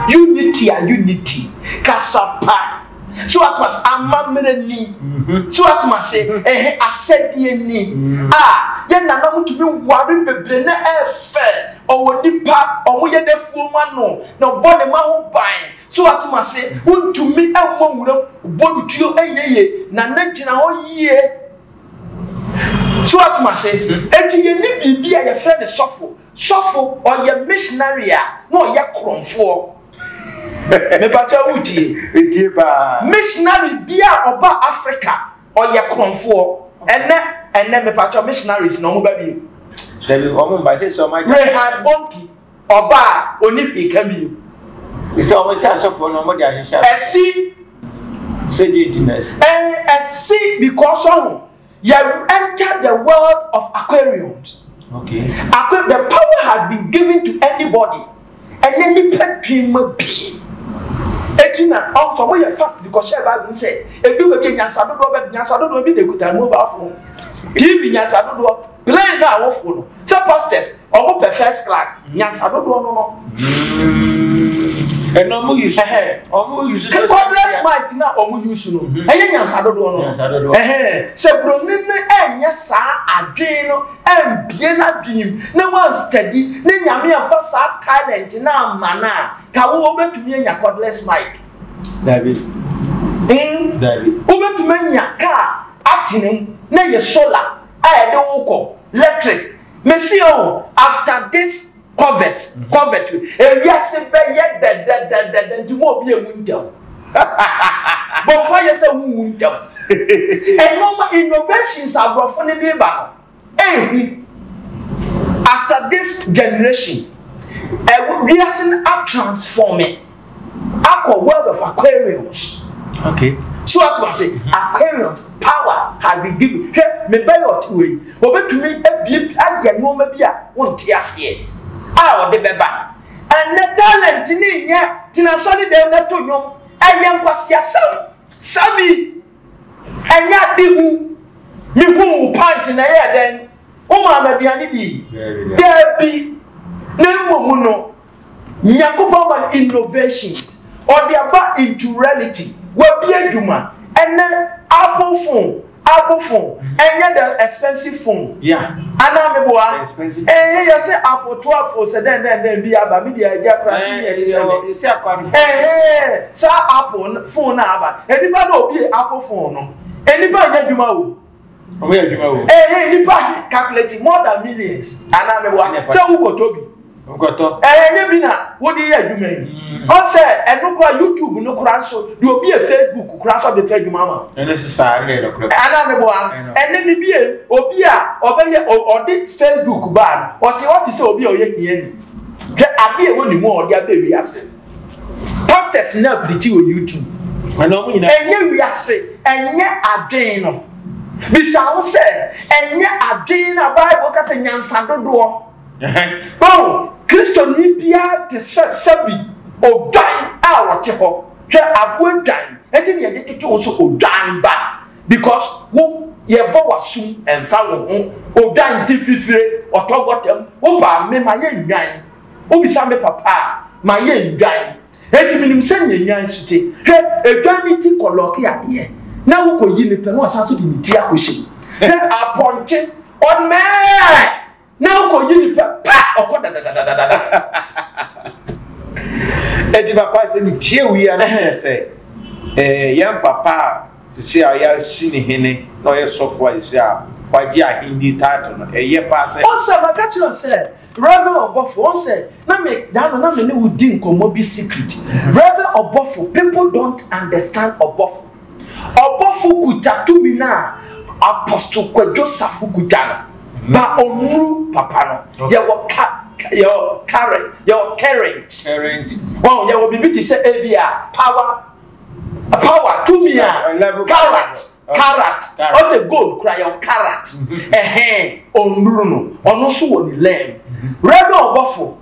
unity a unity kasapa so atmas amammerɛ ni mm-hmm. so atmas ɛhɛ asɛdeɛ ni mm-hmm. a ah, yɛ nana mo tumi ware bebree na ɛfɛ ɔwɔ nipa ɔmo yɛ dɛfuo ma no na ɔbɔ ne ma ho ban. So wate me ase? Wontumi mmɔ nwuram bodutuo nyɛ yie na na gyina hɔ yie. So wate me ase? Enti yɛne biribi a yɛfrɛ no sɔfo. Sɔfo ɔyɛ missionary a na ɔyɛ korɔmfoɔ. Mepakyɛ wotie? Metie paa. Missionary bi a ɔba Africa ɔyɛ korɔmfoɔ. Ɛnɛ ɛnɛ mepakyɛ missionaries na wɔn ba bi. Dabi wɔn mba sɛ sɛ wɔn agya. Reinhard Bonnke Ɔba a ɔnni hwee ka bio. Te sɛ wɔn sɛ asɔfoɔ no, wɔde ahyehyɛ ato. Ɛsi. Sɛ deɛ enti na ɛsi. Ɛn, ɛsi because ɔho, yɛ enter the world of Aquarians. Okay. Aqu, the power has been given to anybody. Ɛnɛ nipa dwen ma bie. Eti na ɔntɔ mo yɛ fast because hyɛ baabi mu sɛ edu baabi nyansa dodoɔ bɛ nyansa dodoɔ bi na ekuta mobile phone. TV nyansa dodoɔ. Blame na awofo no sɛ pastors ɔmo pɛ first class nyansa dodoɔ no no. ɛna ɔmo use ɔmo use sɛ cordless mic na ɔmo use no mhm. ɛyɛ nyansa dodoɔ no sɛ buroni no ɛnyɛ saa adwene no ɛmbie n'adwene mu na wɔn steady ne nyame afa saa talent na ama na ka wo wobɛtumi anya cordless mic dabi hmm? dabi wobɛtumi anya kaa atene mu na yɛ solar a yɛde wo kɔ lectric mese o after this covet covet ewiase bɛyɛ dɛdɛdɛdɛdɛ nti mo obi emu ntɛm bɔ mpa yɛ sɛ wunwu ntɛm ɛnɔma innovations aborɔfo no de ba no ehu after this generation ɛwiase no atransforme akɔ world of aquariums okay so ato ase mhm. aquariums power has been given hwɛ me bɛlɔt wei obetumi abie ayɛ nneɛma bi a wonte aseɛ a ɔde bɛba ɛnɛ talent ne nyɛ tena sɔre dɛm na to nnwom ɛyɛ nkwasiasɛm sabi ɛnyɛ ade hu mehu wo pant na ɛyɛ dɛn wo maama aduane bi daabi na mmom no Nyankopɔn ma no innovations, ɔde aba into reality, wabie adwuma, ɛnɛ Apple phone, Apple phone, ɛnyɛ the expensive phone, yeah, anaa meboa, ɛɛhe yɛse Apple 12 phone sɛ dɛn dɛn dɛn bi aba, media agya akora se ne ɛte sɛ me, ɛɛhe saa Apple phone na aba, nnipa na obie Apple phone no, nnipa nyɛ adwuma o. Wɔn yɛ adwuma wɔ. Ɛɛ hɛn nipa he calculate more than millions anaa meboa sɛ wokɔtɔ bi. Wokɔtɔ. Ɛɛ nyɛ bi na wode yɛ adwuma yi. Mm. Ɔn sɛ ɛno kora YouTube no kora nso de obi yɛ Facebook kora nso de pɛ adwuma ama. Ɛno nso saa ɛno yɛ nokorɛ. Anaa meboa ɛne ne bie obi a ɔbɛyɛ ɔde Facebook baa no ɔte hɔ te sɛ obi a ɔyɛ hiani. Hwɛ ade a ɛwɔ ne mu a ɔde aba wiase. pastors nyinaa pirikyi wɔ youtube ɛnyɛ wiase ɛnyɛ adwene no bisa ho sɛ ɛnyɛ adwene no a bible ka sɛ nyansa dodoɔ bɛwo kristoni biara te sɛ sɛbi odwan a wɔte hɔ hwɛ aboa dwan ɛnti ne yɛde toto wo so odwan ba because wo yɛbɔ w'asom ɛmfa wo ho odwan di fifire ɔtɔ gɔtam wo baa me ma yɛ nnwan Wobisa me papa a, mayɛ nnwan, enti minim sɛnea nnwan su te. Hwɛ, edwan no ti kɔlɔɔke adeɛ, na wokoyi no pɛ na ɔsan so de ne ti akɔhyɛ mu. Hwɛ, apɔnkye ɔnɛɛ, na wokoyi no pɛ, pa! Ɔkɔ dadadadadada. Enti papa, sɛ metie wo yi a, na kyerɛ sɛ yɛn papa a sisi a yɛasi ne hene na ɔyɛ sɔfo a sisi a wagye ahenni title no, ɛyɛ paa sɛ. Ɔn sɛ maka kyerɛ wo sɛ Rev. Ɔbɔfo, wɔn sɛ, na me da no na me ne wo di nkɔmmɔ bi secret. Rev. Ɔbɔfo, people don't understand Ɔbɔfo. Ɔbɔfo kuta tumi no a Apostle Kwadwo Safo kuta no. Ba ɔmmru papa no. Yɛwɔ ka, yɛwɔ current, yɛwɔ current. Current. Wɔn, yɛwɔ biribi te sɛ ebia power. power tumi a karat karat ɔsɛ gold kura yɛ karat ɛhɛn ɔnuru no ɔno nso wɔ ne lɛm rɛbɛ ɔbɔfo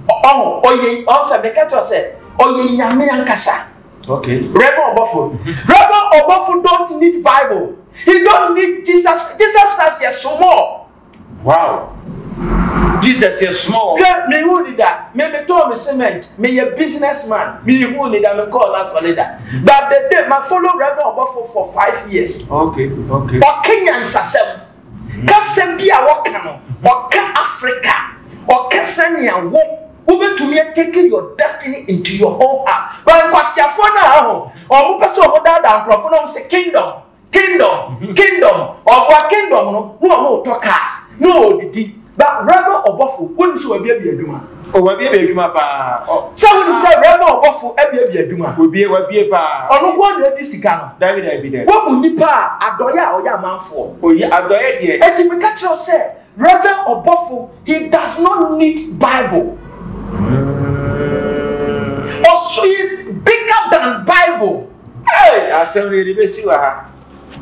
ɔho ɔyɛ ɔnsɛ meka kyerɛ sɛ ɔyɛ nyame ankasa rɛbɛ ɔbɔfo rɛbɛ ɔbɔfo don't need bible he don't need jesus jesus christ yɛ somɔ Wow! Jesus yɛ soma wɔn. Hwɛ, me hu ni da, me me tɔn me cement, me yɛ business man, me hu ni da, me kɔɔ na sɔre da. But the day ma follow Reverend Ɔbɔfo for five years. Okay, okay. Ɔka nyansasɛm, kasɛm bi a wɔka no, ɔka Africa, ɔka sɛnea wo wobɛtumi atake your destiny into your own hand. But nkwasiafoɔ no a aho, wɔn pɛ sɛ wɔn daadaa nkurɔfoɔ na wɔn sɛ kingdom. Kingdom, kingdom, ɔboa kingdom no na ɔno ɔtɔ cars na ɔdidi. Ba rɛma ɔbɔfo wonim sɛ wabiabia adwuma. O wabiabia adwuma paa. Sɛ wonim sɛ rɛma ɔbɔfo abiabia adwuma. Wabie wabie paa. Ɔno nko na adi sika no. Dabi dabi dabi. Wabu nipa a adɔyɛ a ɔyɛ amanfoɔ. Oye adɔyɛ deɛ. Eti meka kyerɛ wo sɛ Rev. Ɔbɔfo he does not need Bible. Ɔso he is bigger than Bible. Hey, asɛm no yɛde bɛsi wɔ ha.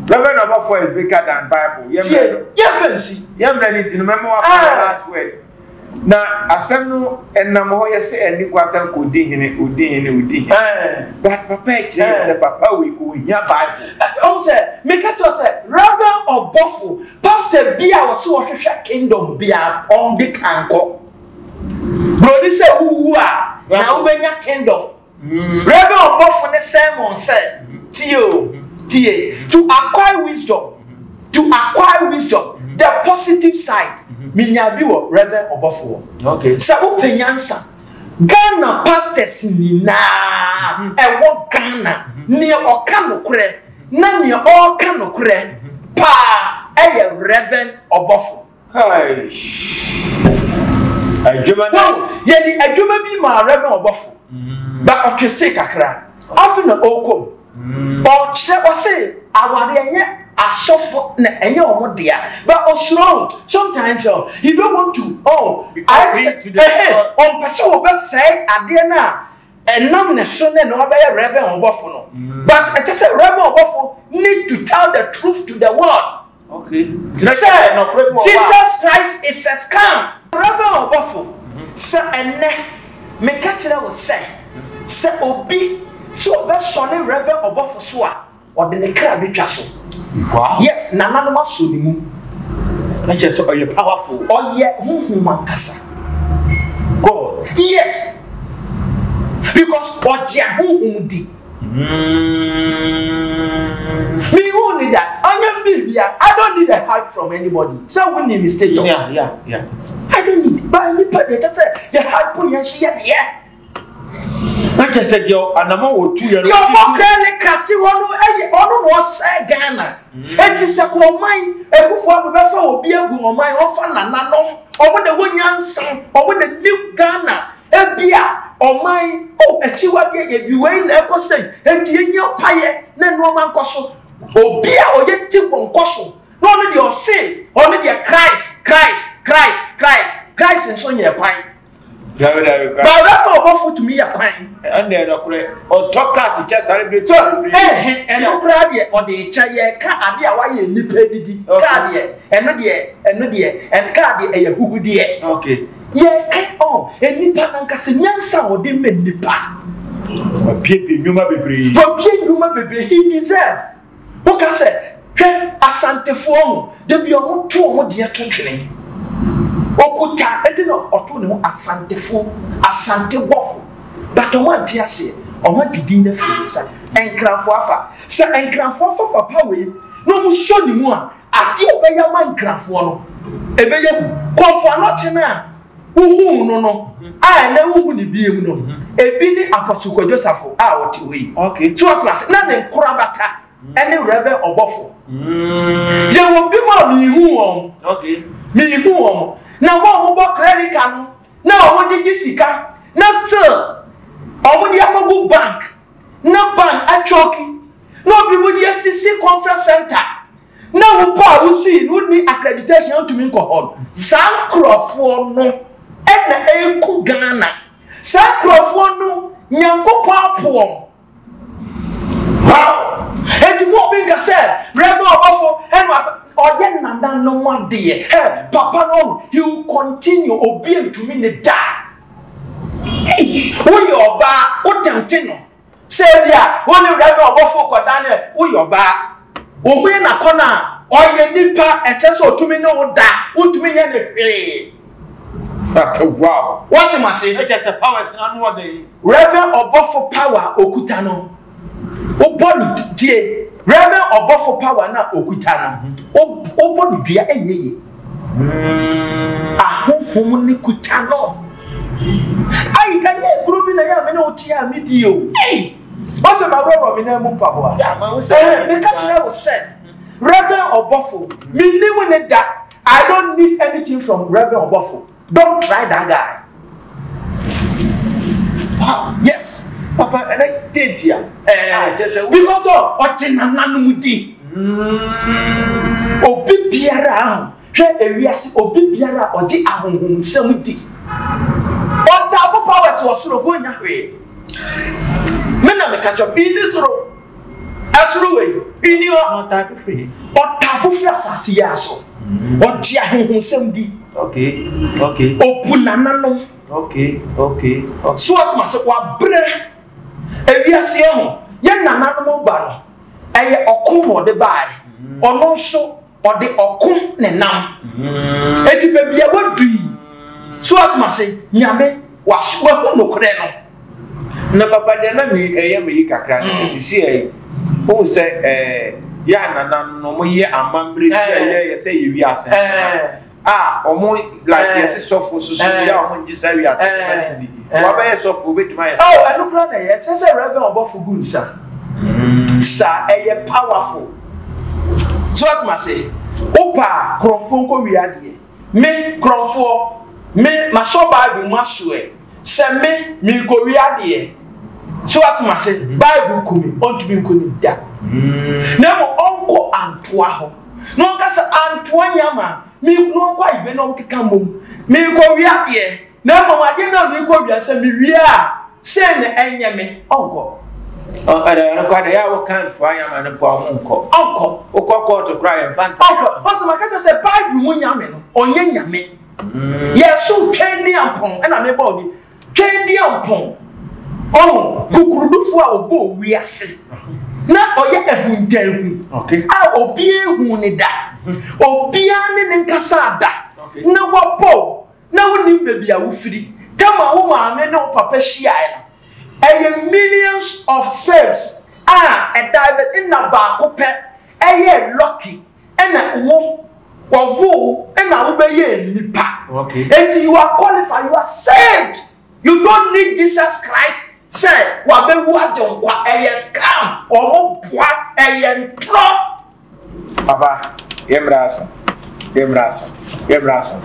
Reverend Obofour is bigger than Bible. Yɛmmerɛ no. Yɛmfa nsi. Yɛmmerɛ no nti no mɛma wafa ah. last word. Na asɛm no ɛnam hɔ yɛ sɛ ɛni kwa sɛ nkɔdi hene, odi hene, odi hene. Eh. But papa ɛkyerɛ yɛ eh. sɛ papa wei kò hia Bible. Ɔn sɛ meka kyerɛ sɛ Reverend Obofour pastor bi a wɔsi wɔhwehwɛ kingdom bi a ɔn de kankɔ. Broni sɛ wuwu a na wobɛnya kingdom. Bere bi ɔbɔfo ne sɛn wɔn sɛ, Tie o, tie, to acquire wisdom, to acquire wisdom, the positive side, minyaa bi wɔ Rev. Ɔbɔfo hɔ. Sɛ wopɛ nyansa, Ghana pastors nyinaa ɛwɔ Ghana, nea ɔka nokorɛ na nea ɔreka nokorɛ paa ɛyɛ Rev. Ɔbɔfo. adwuma no yɛde adwuma bi maa rɛbɛn ɔbɔfo ba ɔtwese kakra afe na ɔkɔ mu mm. ɔkyerɛ ɔse aware ɛnyɛ asɔfo na ɛnyɛ ɔmo dea but ɔsoro sometimes ɔ oh, he don't want to ɔ oh, ɔmpɛ sɛ wɔbɛsɛe adeɛ no a ɛnam ne so ne na ɔbɛyɛ rɛbɛn ɔbɔfo no mm. but ɛkyɛ sɛ rɛbɛn ɔbɔfo need to tell the truth to the world Sɛ Jesus Christ is a scam. Ɔbɛba ɔbɔfo sɛ ɛnnɛ meka kyerɛ wo sɛ sɛ obi sɛ ɔbɛsɔre Rev ɔbɔfo so a ɔde ne kra bɛtwa so yes nananom asɔ ne mu na kyerɛ sɛ ɔyɛ powerful ɔyɛ honhom ankasa God yes because ɔgye honhom di. Me hu ne da ɔnyɛ me biribi a I don't need a hug from anybody sɛ wo nim me status yeah yeah yeah I don't need ba nipa deɛ kyɛ sɛ yɛ hug po yɛn so yɛ deɛ na kyɛ sɛ deɛ anamɔ wɔ tu yɛ no yɛ ɔbɔ kura ne kate hɔ no ɛyɛ ɔno na ɔsɛ Ghana eti mm. sɛ kɔ ɔman ebufoɔ no bɛfa obi egu ɔman ɔfa nananom ɔmo na ɛwɔ nyansa ɔmo na nim Ghana. Ebia ɔman yi, oh, akyiwadeɛ yɛ bi, wei na ɛkɔ sɛn, enti yɛnyɛ ɔpayɛ na nnoɔma nkɔ so. Obi a ɔyɛ ti wɔ nkɔ so, na ɔno deɛ ɔse, ɔno deɛ Christ, Christ, Christ, Christ, Christ nso nyɛ kwan. Dabi dabi kwan. Baabi a ɔbɔfo tumi yɛ kwan. Ɛnna ɛdɔ korɛ, ɔtɔ kaa ti kyɛ sáré bɛ ti. So ɛhɛ ɛno koraa deɛ ɔde kyɛ yɛ ka ade a wayɛ nipa didi kaa deɛ ɛno deɛ ɛno deɛ ɛn kaa deɛ ɛyɛ huhudeɛ. Okay. Yɛ ɛ ɔ ɛ nipa ankasa nyansa a ɔde mɛ nipa. Wabiebie nnwuma bebree. Wabie nnwuma bebree he deserve. Woka sɛ hwɛ asantefoɔ ho da bi ɔmo to ɔmo deɛ to twene. Okuta ɛti na ɔto ne ho asantefoɔ asante bɔfo but ɔmo ante aseɛ ɔmo adi din na firi sa ɛnkranfoɔ afa sɛ ɛnkranfoɔ afa papa wei na ɔmo sɔ ne mu a Ade a ɔbɛyɛ ama nkrafoɔ no, ɛbɛyɛ hu. Kɔmfoano kye no a wohuu no no a ɛnnɛ wonhu no biom no, ebi ne Apostle Kwadwo Safo a ɔte hɔ yi. So wate ase? Na ne nkorabata ne Rev. Ɔbɔfo. Yɛwɔ binom a menhuu wɔn. Menhuu wɔn. Na wɔn a wɔbɔ clerical no, na wɔgyegye sika, na still wɔde akɔgu bank na ban atwɔki na obi mo de asisi conference center na wo pɔ a wosii no wonni accreditation a wontumi nkɔ hɔ no saa nkurɔfoɔ no ɛna ɛku Ghana saa nkurɔfoɔ no Nyankopɔn apoɔ wow ɛti mo obi nka sɛ rɛbɛ ɔbɔfo ɛna ɔyɛ nana no adeɛ ɛ papa no he will continue obi ntumi ne da Ei, woyɛ ɔbaa, wotɛmte no sɛ ebia wo ne Rev. Ɔbɔfo rekɔda no ɛ, woyɛ ɔbaa. Wohue n'akɔnnɔ a, ɔyɛ nipa, ɛsɛ sɛ otumi ne wo da, wuntumi nyɛ no hwee. Wow! Woate m'ase? Rev. Ɔbɔfo power a okuta no, Wobɔ no due, Rev. Ɔbɔfo power no a okuta no, wobɔ no dua ɛnyɛ yie. Ahonhom no kuta no. Ai, ɛnyɛ nkuro bi na yɛ a me ne wo te a medi o. Ei, wɔsɛ maworɔworɔ me nan mu mpaboa. Meka kyerɛ wo sɛ, Rev. Ɔbɔfo, menni wo ne da. I don't need anything from Rev. Ɔbɔfo. Don't try that guy. Ah, yes, Papa, and I did here. Eh, ah, just a because of Ochina Nanumudi. Mm. Obi biara, hwɛ ewiase obi biara ɔgye ahonhomsɛm di. Ɔda abo powers wɔ soro go nya hwee. Me na meka kyɛ bi ne soro Ɛsono wei, nni hɔ. Na ɔtaako firi he? Ɔtaako firi asaase yi ara so. Ɔgye ahonhonsɛm di. Okay, okay. Obu nananom. Okay, okay, okay. So ɔte ma se wabrɛ ewiase yɛ ho. Yɛn nananom ba no, ɛyɛ ɔko na ɔde baeɛ. Ɔno nso. Ɔde ɔko na ɛnam. Enti baabi a wadu yi, so ate ma se Nyame waso wahu nokorɛ no. Na papa deɛ na me ɛyɛ me yi kakra no mm. ɛti si ɛyi wohu sɛ ɛɛ yɛ anana no na ɔmo yɛ amammerɛ bi a yɛyɛ sɛ yɛ wiase. a ɔmo like eh. yɛsi sɔfo soso eh. yɛ a ɔmo ngye saa wiase eh. ma ne ndidi wabɛyɛ sɔfo obetumi ayɛ sɔfo. ɛwɔ ɛno kura na ɛyɛ ɛkyɛ sɛ rɛbɛn ɔbɔfo gu nsa mm. saa ɛyɛ powerful so atum ase wopa korɔnfo nkɔ wi adeɛ me korɔnfoɔ me masɔ baabi mu asoɛ. Sɛ me, merekowia deɛ, so woate m'ase, Bible ku me, ɔntumi nko nim da. Na mmom ɔnkɔ Antoa hɔ, na ɔnka sɛ, Antoa Nyama, me, na ɔnkɔ Ayigbe na ɔnkeka mmom, merekowia deɛ, na mmom adeɛ no a merekowia, sɛ mewie a, sei na ɛnyɛ me, ɔnkɔ. Ɔ, ɛdɛ, ɛno koraa deɛ, ɛyɛ a woka Antoa Nyama no mpo a, ɔmo nkɔ. Ɔnkɔ. Wokɔ kɔɔto koraa a, yɛmfa nka. Ɔnkɔ. Ɔse, maka kyerɛ wo sɛ, Bible mu Nyame no, ɔnyɛ Nyame. Yɛso Twɛn Diampong na meba wo din. Twɛn Diampong, ɔho, kukurudufo a ɔbɔɔ wiase na ɔyɛ ahuntaahu a obiara nhuu no da, obiara ne no nkasaa da, na wabɔ wo na wonnim baabi a wofiri. Tam a wo maame ne wo papa hyiae no, ɛyɛ millions of sperms a ɛda bɛ nna baako pɛ ɛyɛɛ lucky ɛna wo wɔwoo wo ɛna wobɛyɛ nipa eti you are qualified you are saved you don't need Jesus Christ sɛ wabɛwu agye nkwa ɛyɛ scam ɔmo boa ɛyɛ ntorɔ. papa yɛ mmerɛ aso yɛ mmerɛ aso yɛ mmerɛ aso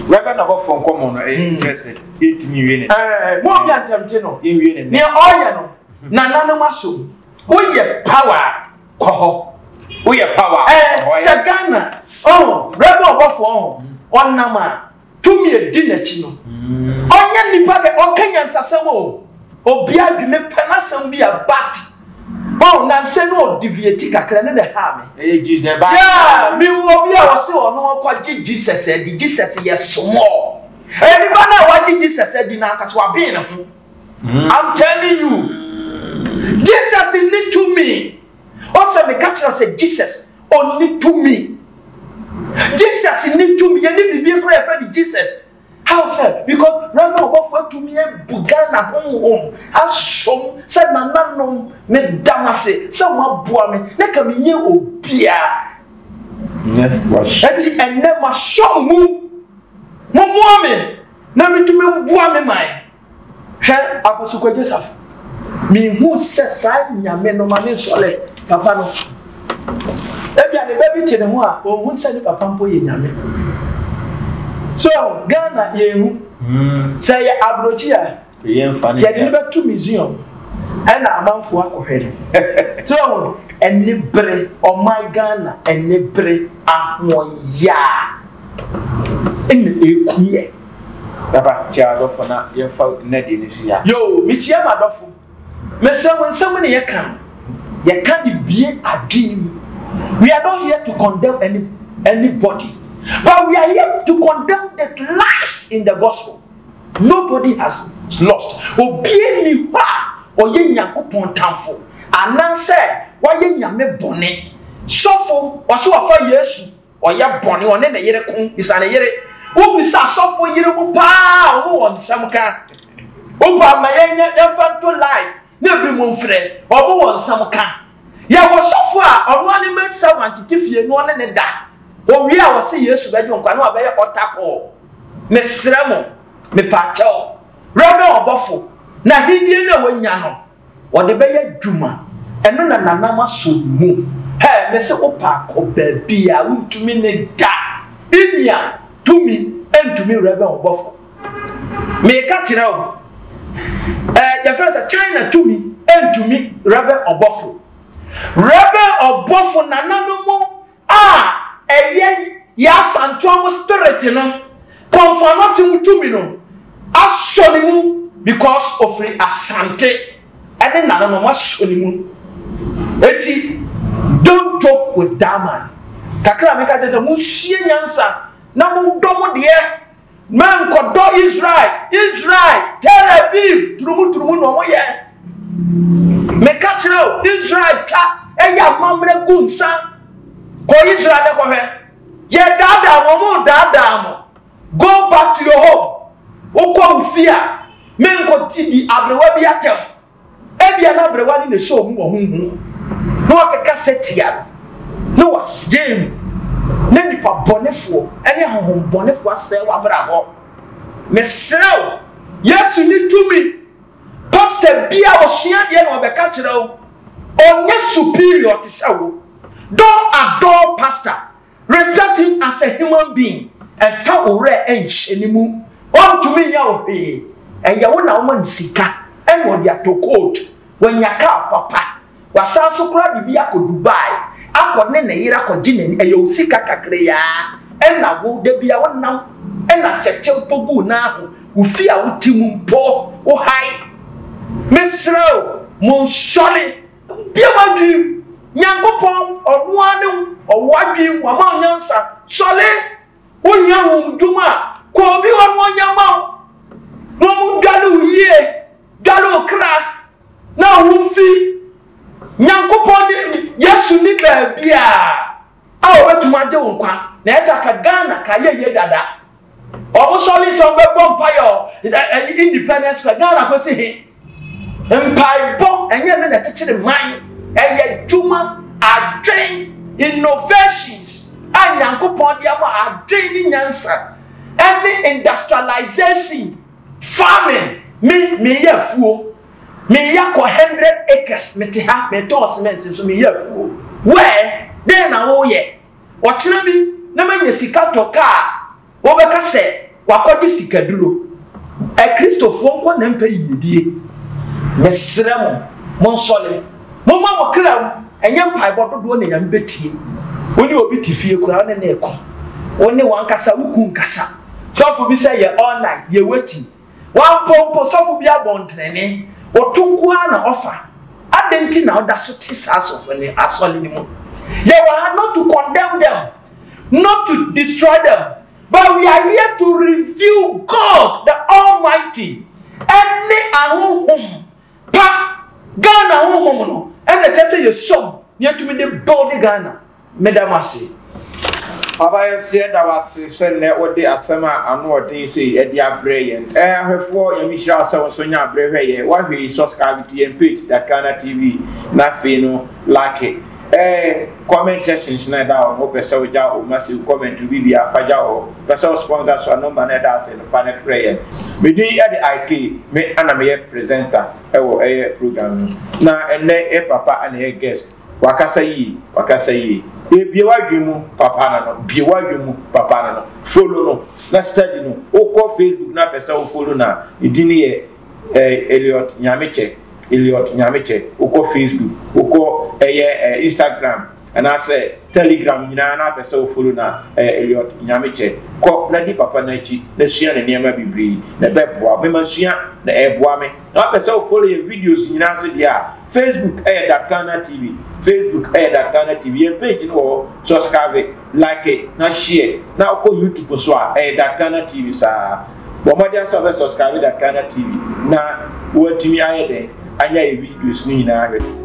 wɛbɛ na bɔfɔ nkɔmɔ no ɛyɛ interested yɛntumi nwie ne. ɛɛ mo bi antɛmte no yɛnwie ne nɛ. nea ɔyɛ no nananom aso woyɛ power. kɔ hɔ woyɛ power a eh, kɔ hɔ sɛ ghana ɔho berɛ bi ɔbɔfoɔ ho ɔnam a tumi ɛdi n'akyi no mm. ɔnyɛ nnipa kɛ ɔka nyansasɛm o obi adwene pɛ n'asɛm bi a bat ɔho nansɛ no ɔdeviati kakra ne ne haa me yeah mewɔ bi a ɔse ɔno ɔkɔgye jesus adi jesus yɛ somɔɔ ɛnipa no a wagye jesus adi no anka so abee ne ho I'm telling you Jesus nni tumi ɔsɛ meka kyerɛ sɛ Jesus ɔnni tumi Jesus nni tumi yɛne biribi kora yɛfrɛ de Jesus how sɛ because rɛma ɔbɔfo atumi abu Ghana honhom asom sɛ nananom meda m ase sɛ moaboa me na ka menyɛ obia ɛnti ɛnnɛ masom mu momoa me Na metumi mboa me man. Hwɛ Apostle Kwadwo Safo. Mehu sɛ saa nyame no ma me nsɔle papa no. Ebia ne ba bi te ne ho a, ɔnhu sɛ ne papa mpo yɛ nyame. So, Ghana yɛnhu. Sɛ yɛ aburokyi a, yɛde no bɛto museum ɛna amanfoɔ akɔhwɛ no so ɛho ɛne bere ɔman ghana ɛne bere ahoɔyaa ɛna ɛku yɛ baba kyɛ adɔfo na yɛmfa nnadi no si a yoo mekyia m'adɔfo mesɛ wo nsɛm ne yɛka yɛka de bie adwene mu we are not here to condemn any, anybody but we are here to condemn the lies in the gospel Nobody has lost. Obiara nni hɔ a ɔyɛ Nyankopɔn tamfo anaasɛ wayɛ Nyame bɔne. Sɔfo, ɔse wafa Yesu, ɔyɛ bɔne, ɔne ne yere ko, bisa ne yere. Wobisa asɔfo yere mu paa a, ɔno wɔ nsɛm ka. Wopa ma yɛnyɛ, yɛmfa nto life, Na binom frɛ wɔn wɔ nsɛm ka. Yɛwɔ sɔfo a ɔno ara ne maid servant te fie na ɔne no da. Owie a ɔse Yesu bɛgye wo nkwa na wabɛyɛ altar call. Mesrɛ mo, mepaakyɛw, Reverend ɔbɔfo, n'ahennie no a wanya no, ɔde bɛyɛ adwuma. Ɛno na nanam asom mu. Hɛɛ, mese wo paa kɔ baabi a wontumi ne da. Innya tumi ntumi Reverend ɔbɔfo. Meka kyerɛ wo, ɛɛ yɛfrɛ no sɛ China tumi ntumi rɛbɛn ɔbɔfo. Rɛbɛn ɔbɔfo nananom a ɛyɛ yɛn asantoa mu spirit no, kɔnfoanɔkye mu tumi no asɔ ne mu because ofiri Asante ɛne nananom asɔ ne mu. Eti don't joke with that man. Kakra a meka kyerɛ sɛ monsua nyansa na modɔ mo deɛ Menkɔdɔ Israel, Israel, Tel Aviv, turumu turumu na wɔn yɛ. Meka kyerɛ o, Israel twa ɛyɛ amammerɛ gu nsa. Kɔ Israel ne kɔhwɛ. Yɛ daadaa wɔn mo daadaa mo. Go back to your home. Wokɔ wo fie a, menkɔ di aberewa bi atɛm. Ebia na aberewa no na ɛhyɛ wɔn mu wɔ honhom mu, na wɔakeka sɛ tia no, na wɔagyae mu. Ná nnipa bɔnefoɔ ne ahonhommɔnefoɔ asɛe w'abrabɔ. Mesrɛ wo, Yesu nni tumi. Pasta bi a ɔsua adeɛ na ɔbɛka kyerɛ wo. Ɔnyɛ superior te sɛ wo. Don't adore pasta. Respect him as a human being, ɛmfa wo werɛ nhyɛ ne mu, ɔntumi nyɛ wo hwee, ɛyɛ wo na woma no sika ɛna ɔde atɔ coat, wanya car papa, wasan nso koraa de bi akɔ Dubai akɔ ne ne yere akɔgye n'ani, ɛyɛ wo sika kakrayaa ɛna wo da biara wonam ɛna atɛkyɛ mpo gu wo nan ho, wo fie a wote mu mpo wo hae. Mesrɛ wo, monsɔre. Bue w'adwene. Nyankopɔn, Ɔno ara ne Ɔwɔ w'adwene, Wama wo nyansa. Sɔre! Wohia honhomdwom a, kɔ obi hɔ na ɔnyɛ mma wo, na wɔndware wo yie, dware wo kra, na wo ho mfi. Nyankopɔn ne Yesu nni baabiara. a ɔbɛtumi agye wo nkwa na ɛsɛ aka Ghana ka yɛ yie dada ɔmo sɔre sɛ ɔmo bɛbɔ mpaeɛ ɛyi independence kɔ Ghana kɔ si he mpaebɔ ɛnyɛ ne na ɛkyekyere man ɛyɛ dwuma adwen innovations a nyankopɔn de ama adwen ne nyansa ɛne industrialization farming me meyɛ afuo Me ya kɔ hundred acres me te ha me tɔn cement nso me ya afuo. Where? Dɛn na wo yɛ? Ɔkyena bi na ma nya sika tɔ kaa a wo bɛ ka sɛ wa kɔ gye sika duro. Akristofoɔ nkɔ na mpɛ yiyedie. Me srɛ mo, mo nsɔle. Mo ma mo kra wu, ɛnyɛ mpaebɔ dodoɔ na Nyame bɛ tie. Wo ne obi te fie koraa wo ne no reko. Wo ne wankasa wo kun kasa. Sɔfo bi sɛ yɛ all night, yɛ waiting. W'ampɔ mpo sɔfo bi abɔntrenene, ɔto nko ara na ɔfa. Adɛn nti na woda so te saa asɔfo no asɔre no mu? Yɛwɔ ha not to condemn them, not to destroy them, but we are here to review God the Almighty ɛne ahonhom pa. Ghana honhom no ɛna ɛsɛ sɛ yɛsɔ mu na yɛtumi de build Ghana. Meda mo ase. Papa yɛso yɛda wo ase sɛ nnɛ wode asɛm a ano ɔden sei ɛde abrɛ yɛn. Ɛɛ ahwɛfoɔ Nyame nhyira wo sɛ wo nso nya abrɛ hwɛ yɛn. Wahwɛ yi subscribe to yɛn page that Ghana TV na afei no lake ɛɛ comment section hyɛ na ɛda hɔ no wopɛ sɛ wogya wo massive comment wo biribiara fa gya wɔ hɔ. Wopɛ sɛ wo sponsor so a number no ɛda ase no fa no frɛ yɛn. Me din ɛde IK me ɛna meyɛ presenter ɛwɔ ɛyɛ program no na ɛnnɛ yɛ papa ɛna ɛyɛ guest. Wakasa yie, wakasa yie. Ee bue w'adwene mu papa no no, bue w'adwene mu papa no no. Follow no na study no. Wokɔ Facebook na pɛ sɛ wo follow no a, ne din no yɛ eh, Elliot Nyamekyɛ, Elliot Nyamekyɛ. Wokɔ Facebook, wokɔ ɛyɛ eh, eh, Instagram anaasɛ Telegram nyinaa na pɛ sɛ wo follow no a, eh, Elliot Nyamekyɛ. Kɔ na di papa no akyi na sua ne nneɛma bebree na ɛbɛboa wo. Mema sua na ɛboa me. Wapɛ sɛ wo follow yɛn videos nyinaa nso deɛ a, Facebook ɛyɛ Dat Ghana TV. Facebook ɛyɛ Dat Ghana TV. Yɛn page no wɔ hɔ. Subscribe, like it, na share. Na wokɔ YouTube nso a, ɛyɛ Dat Ghana TV saa. Bɔ mmɔden ara sɛ wobɛ subscribe Dat Ghana TV na woatumi ayɛ dɛn anya yɛn videos no nyinaa ahwɛ.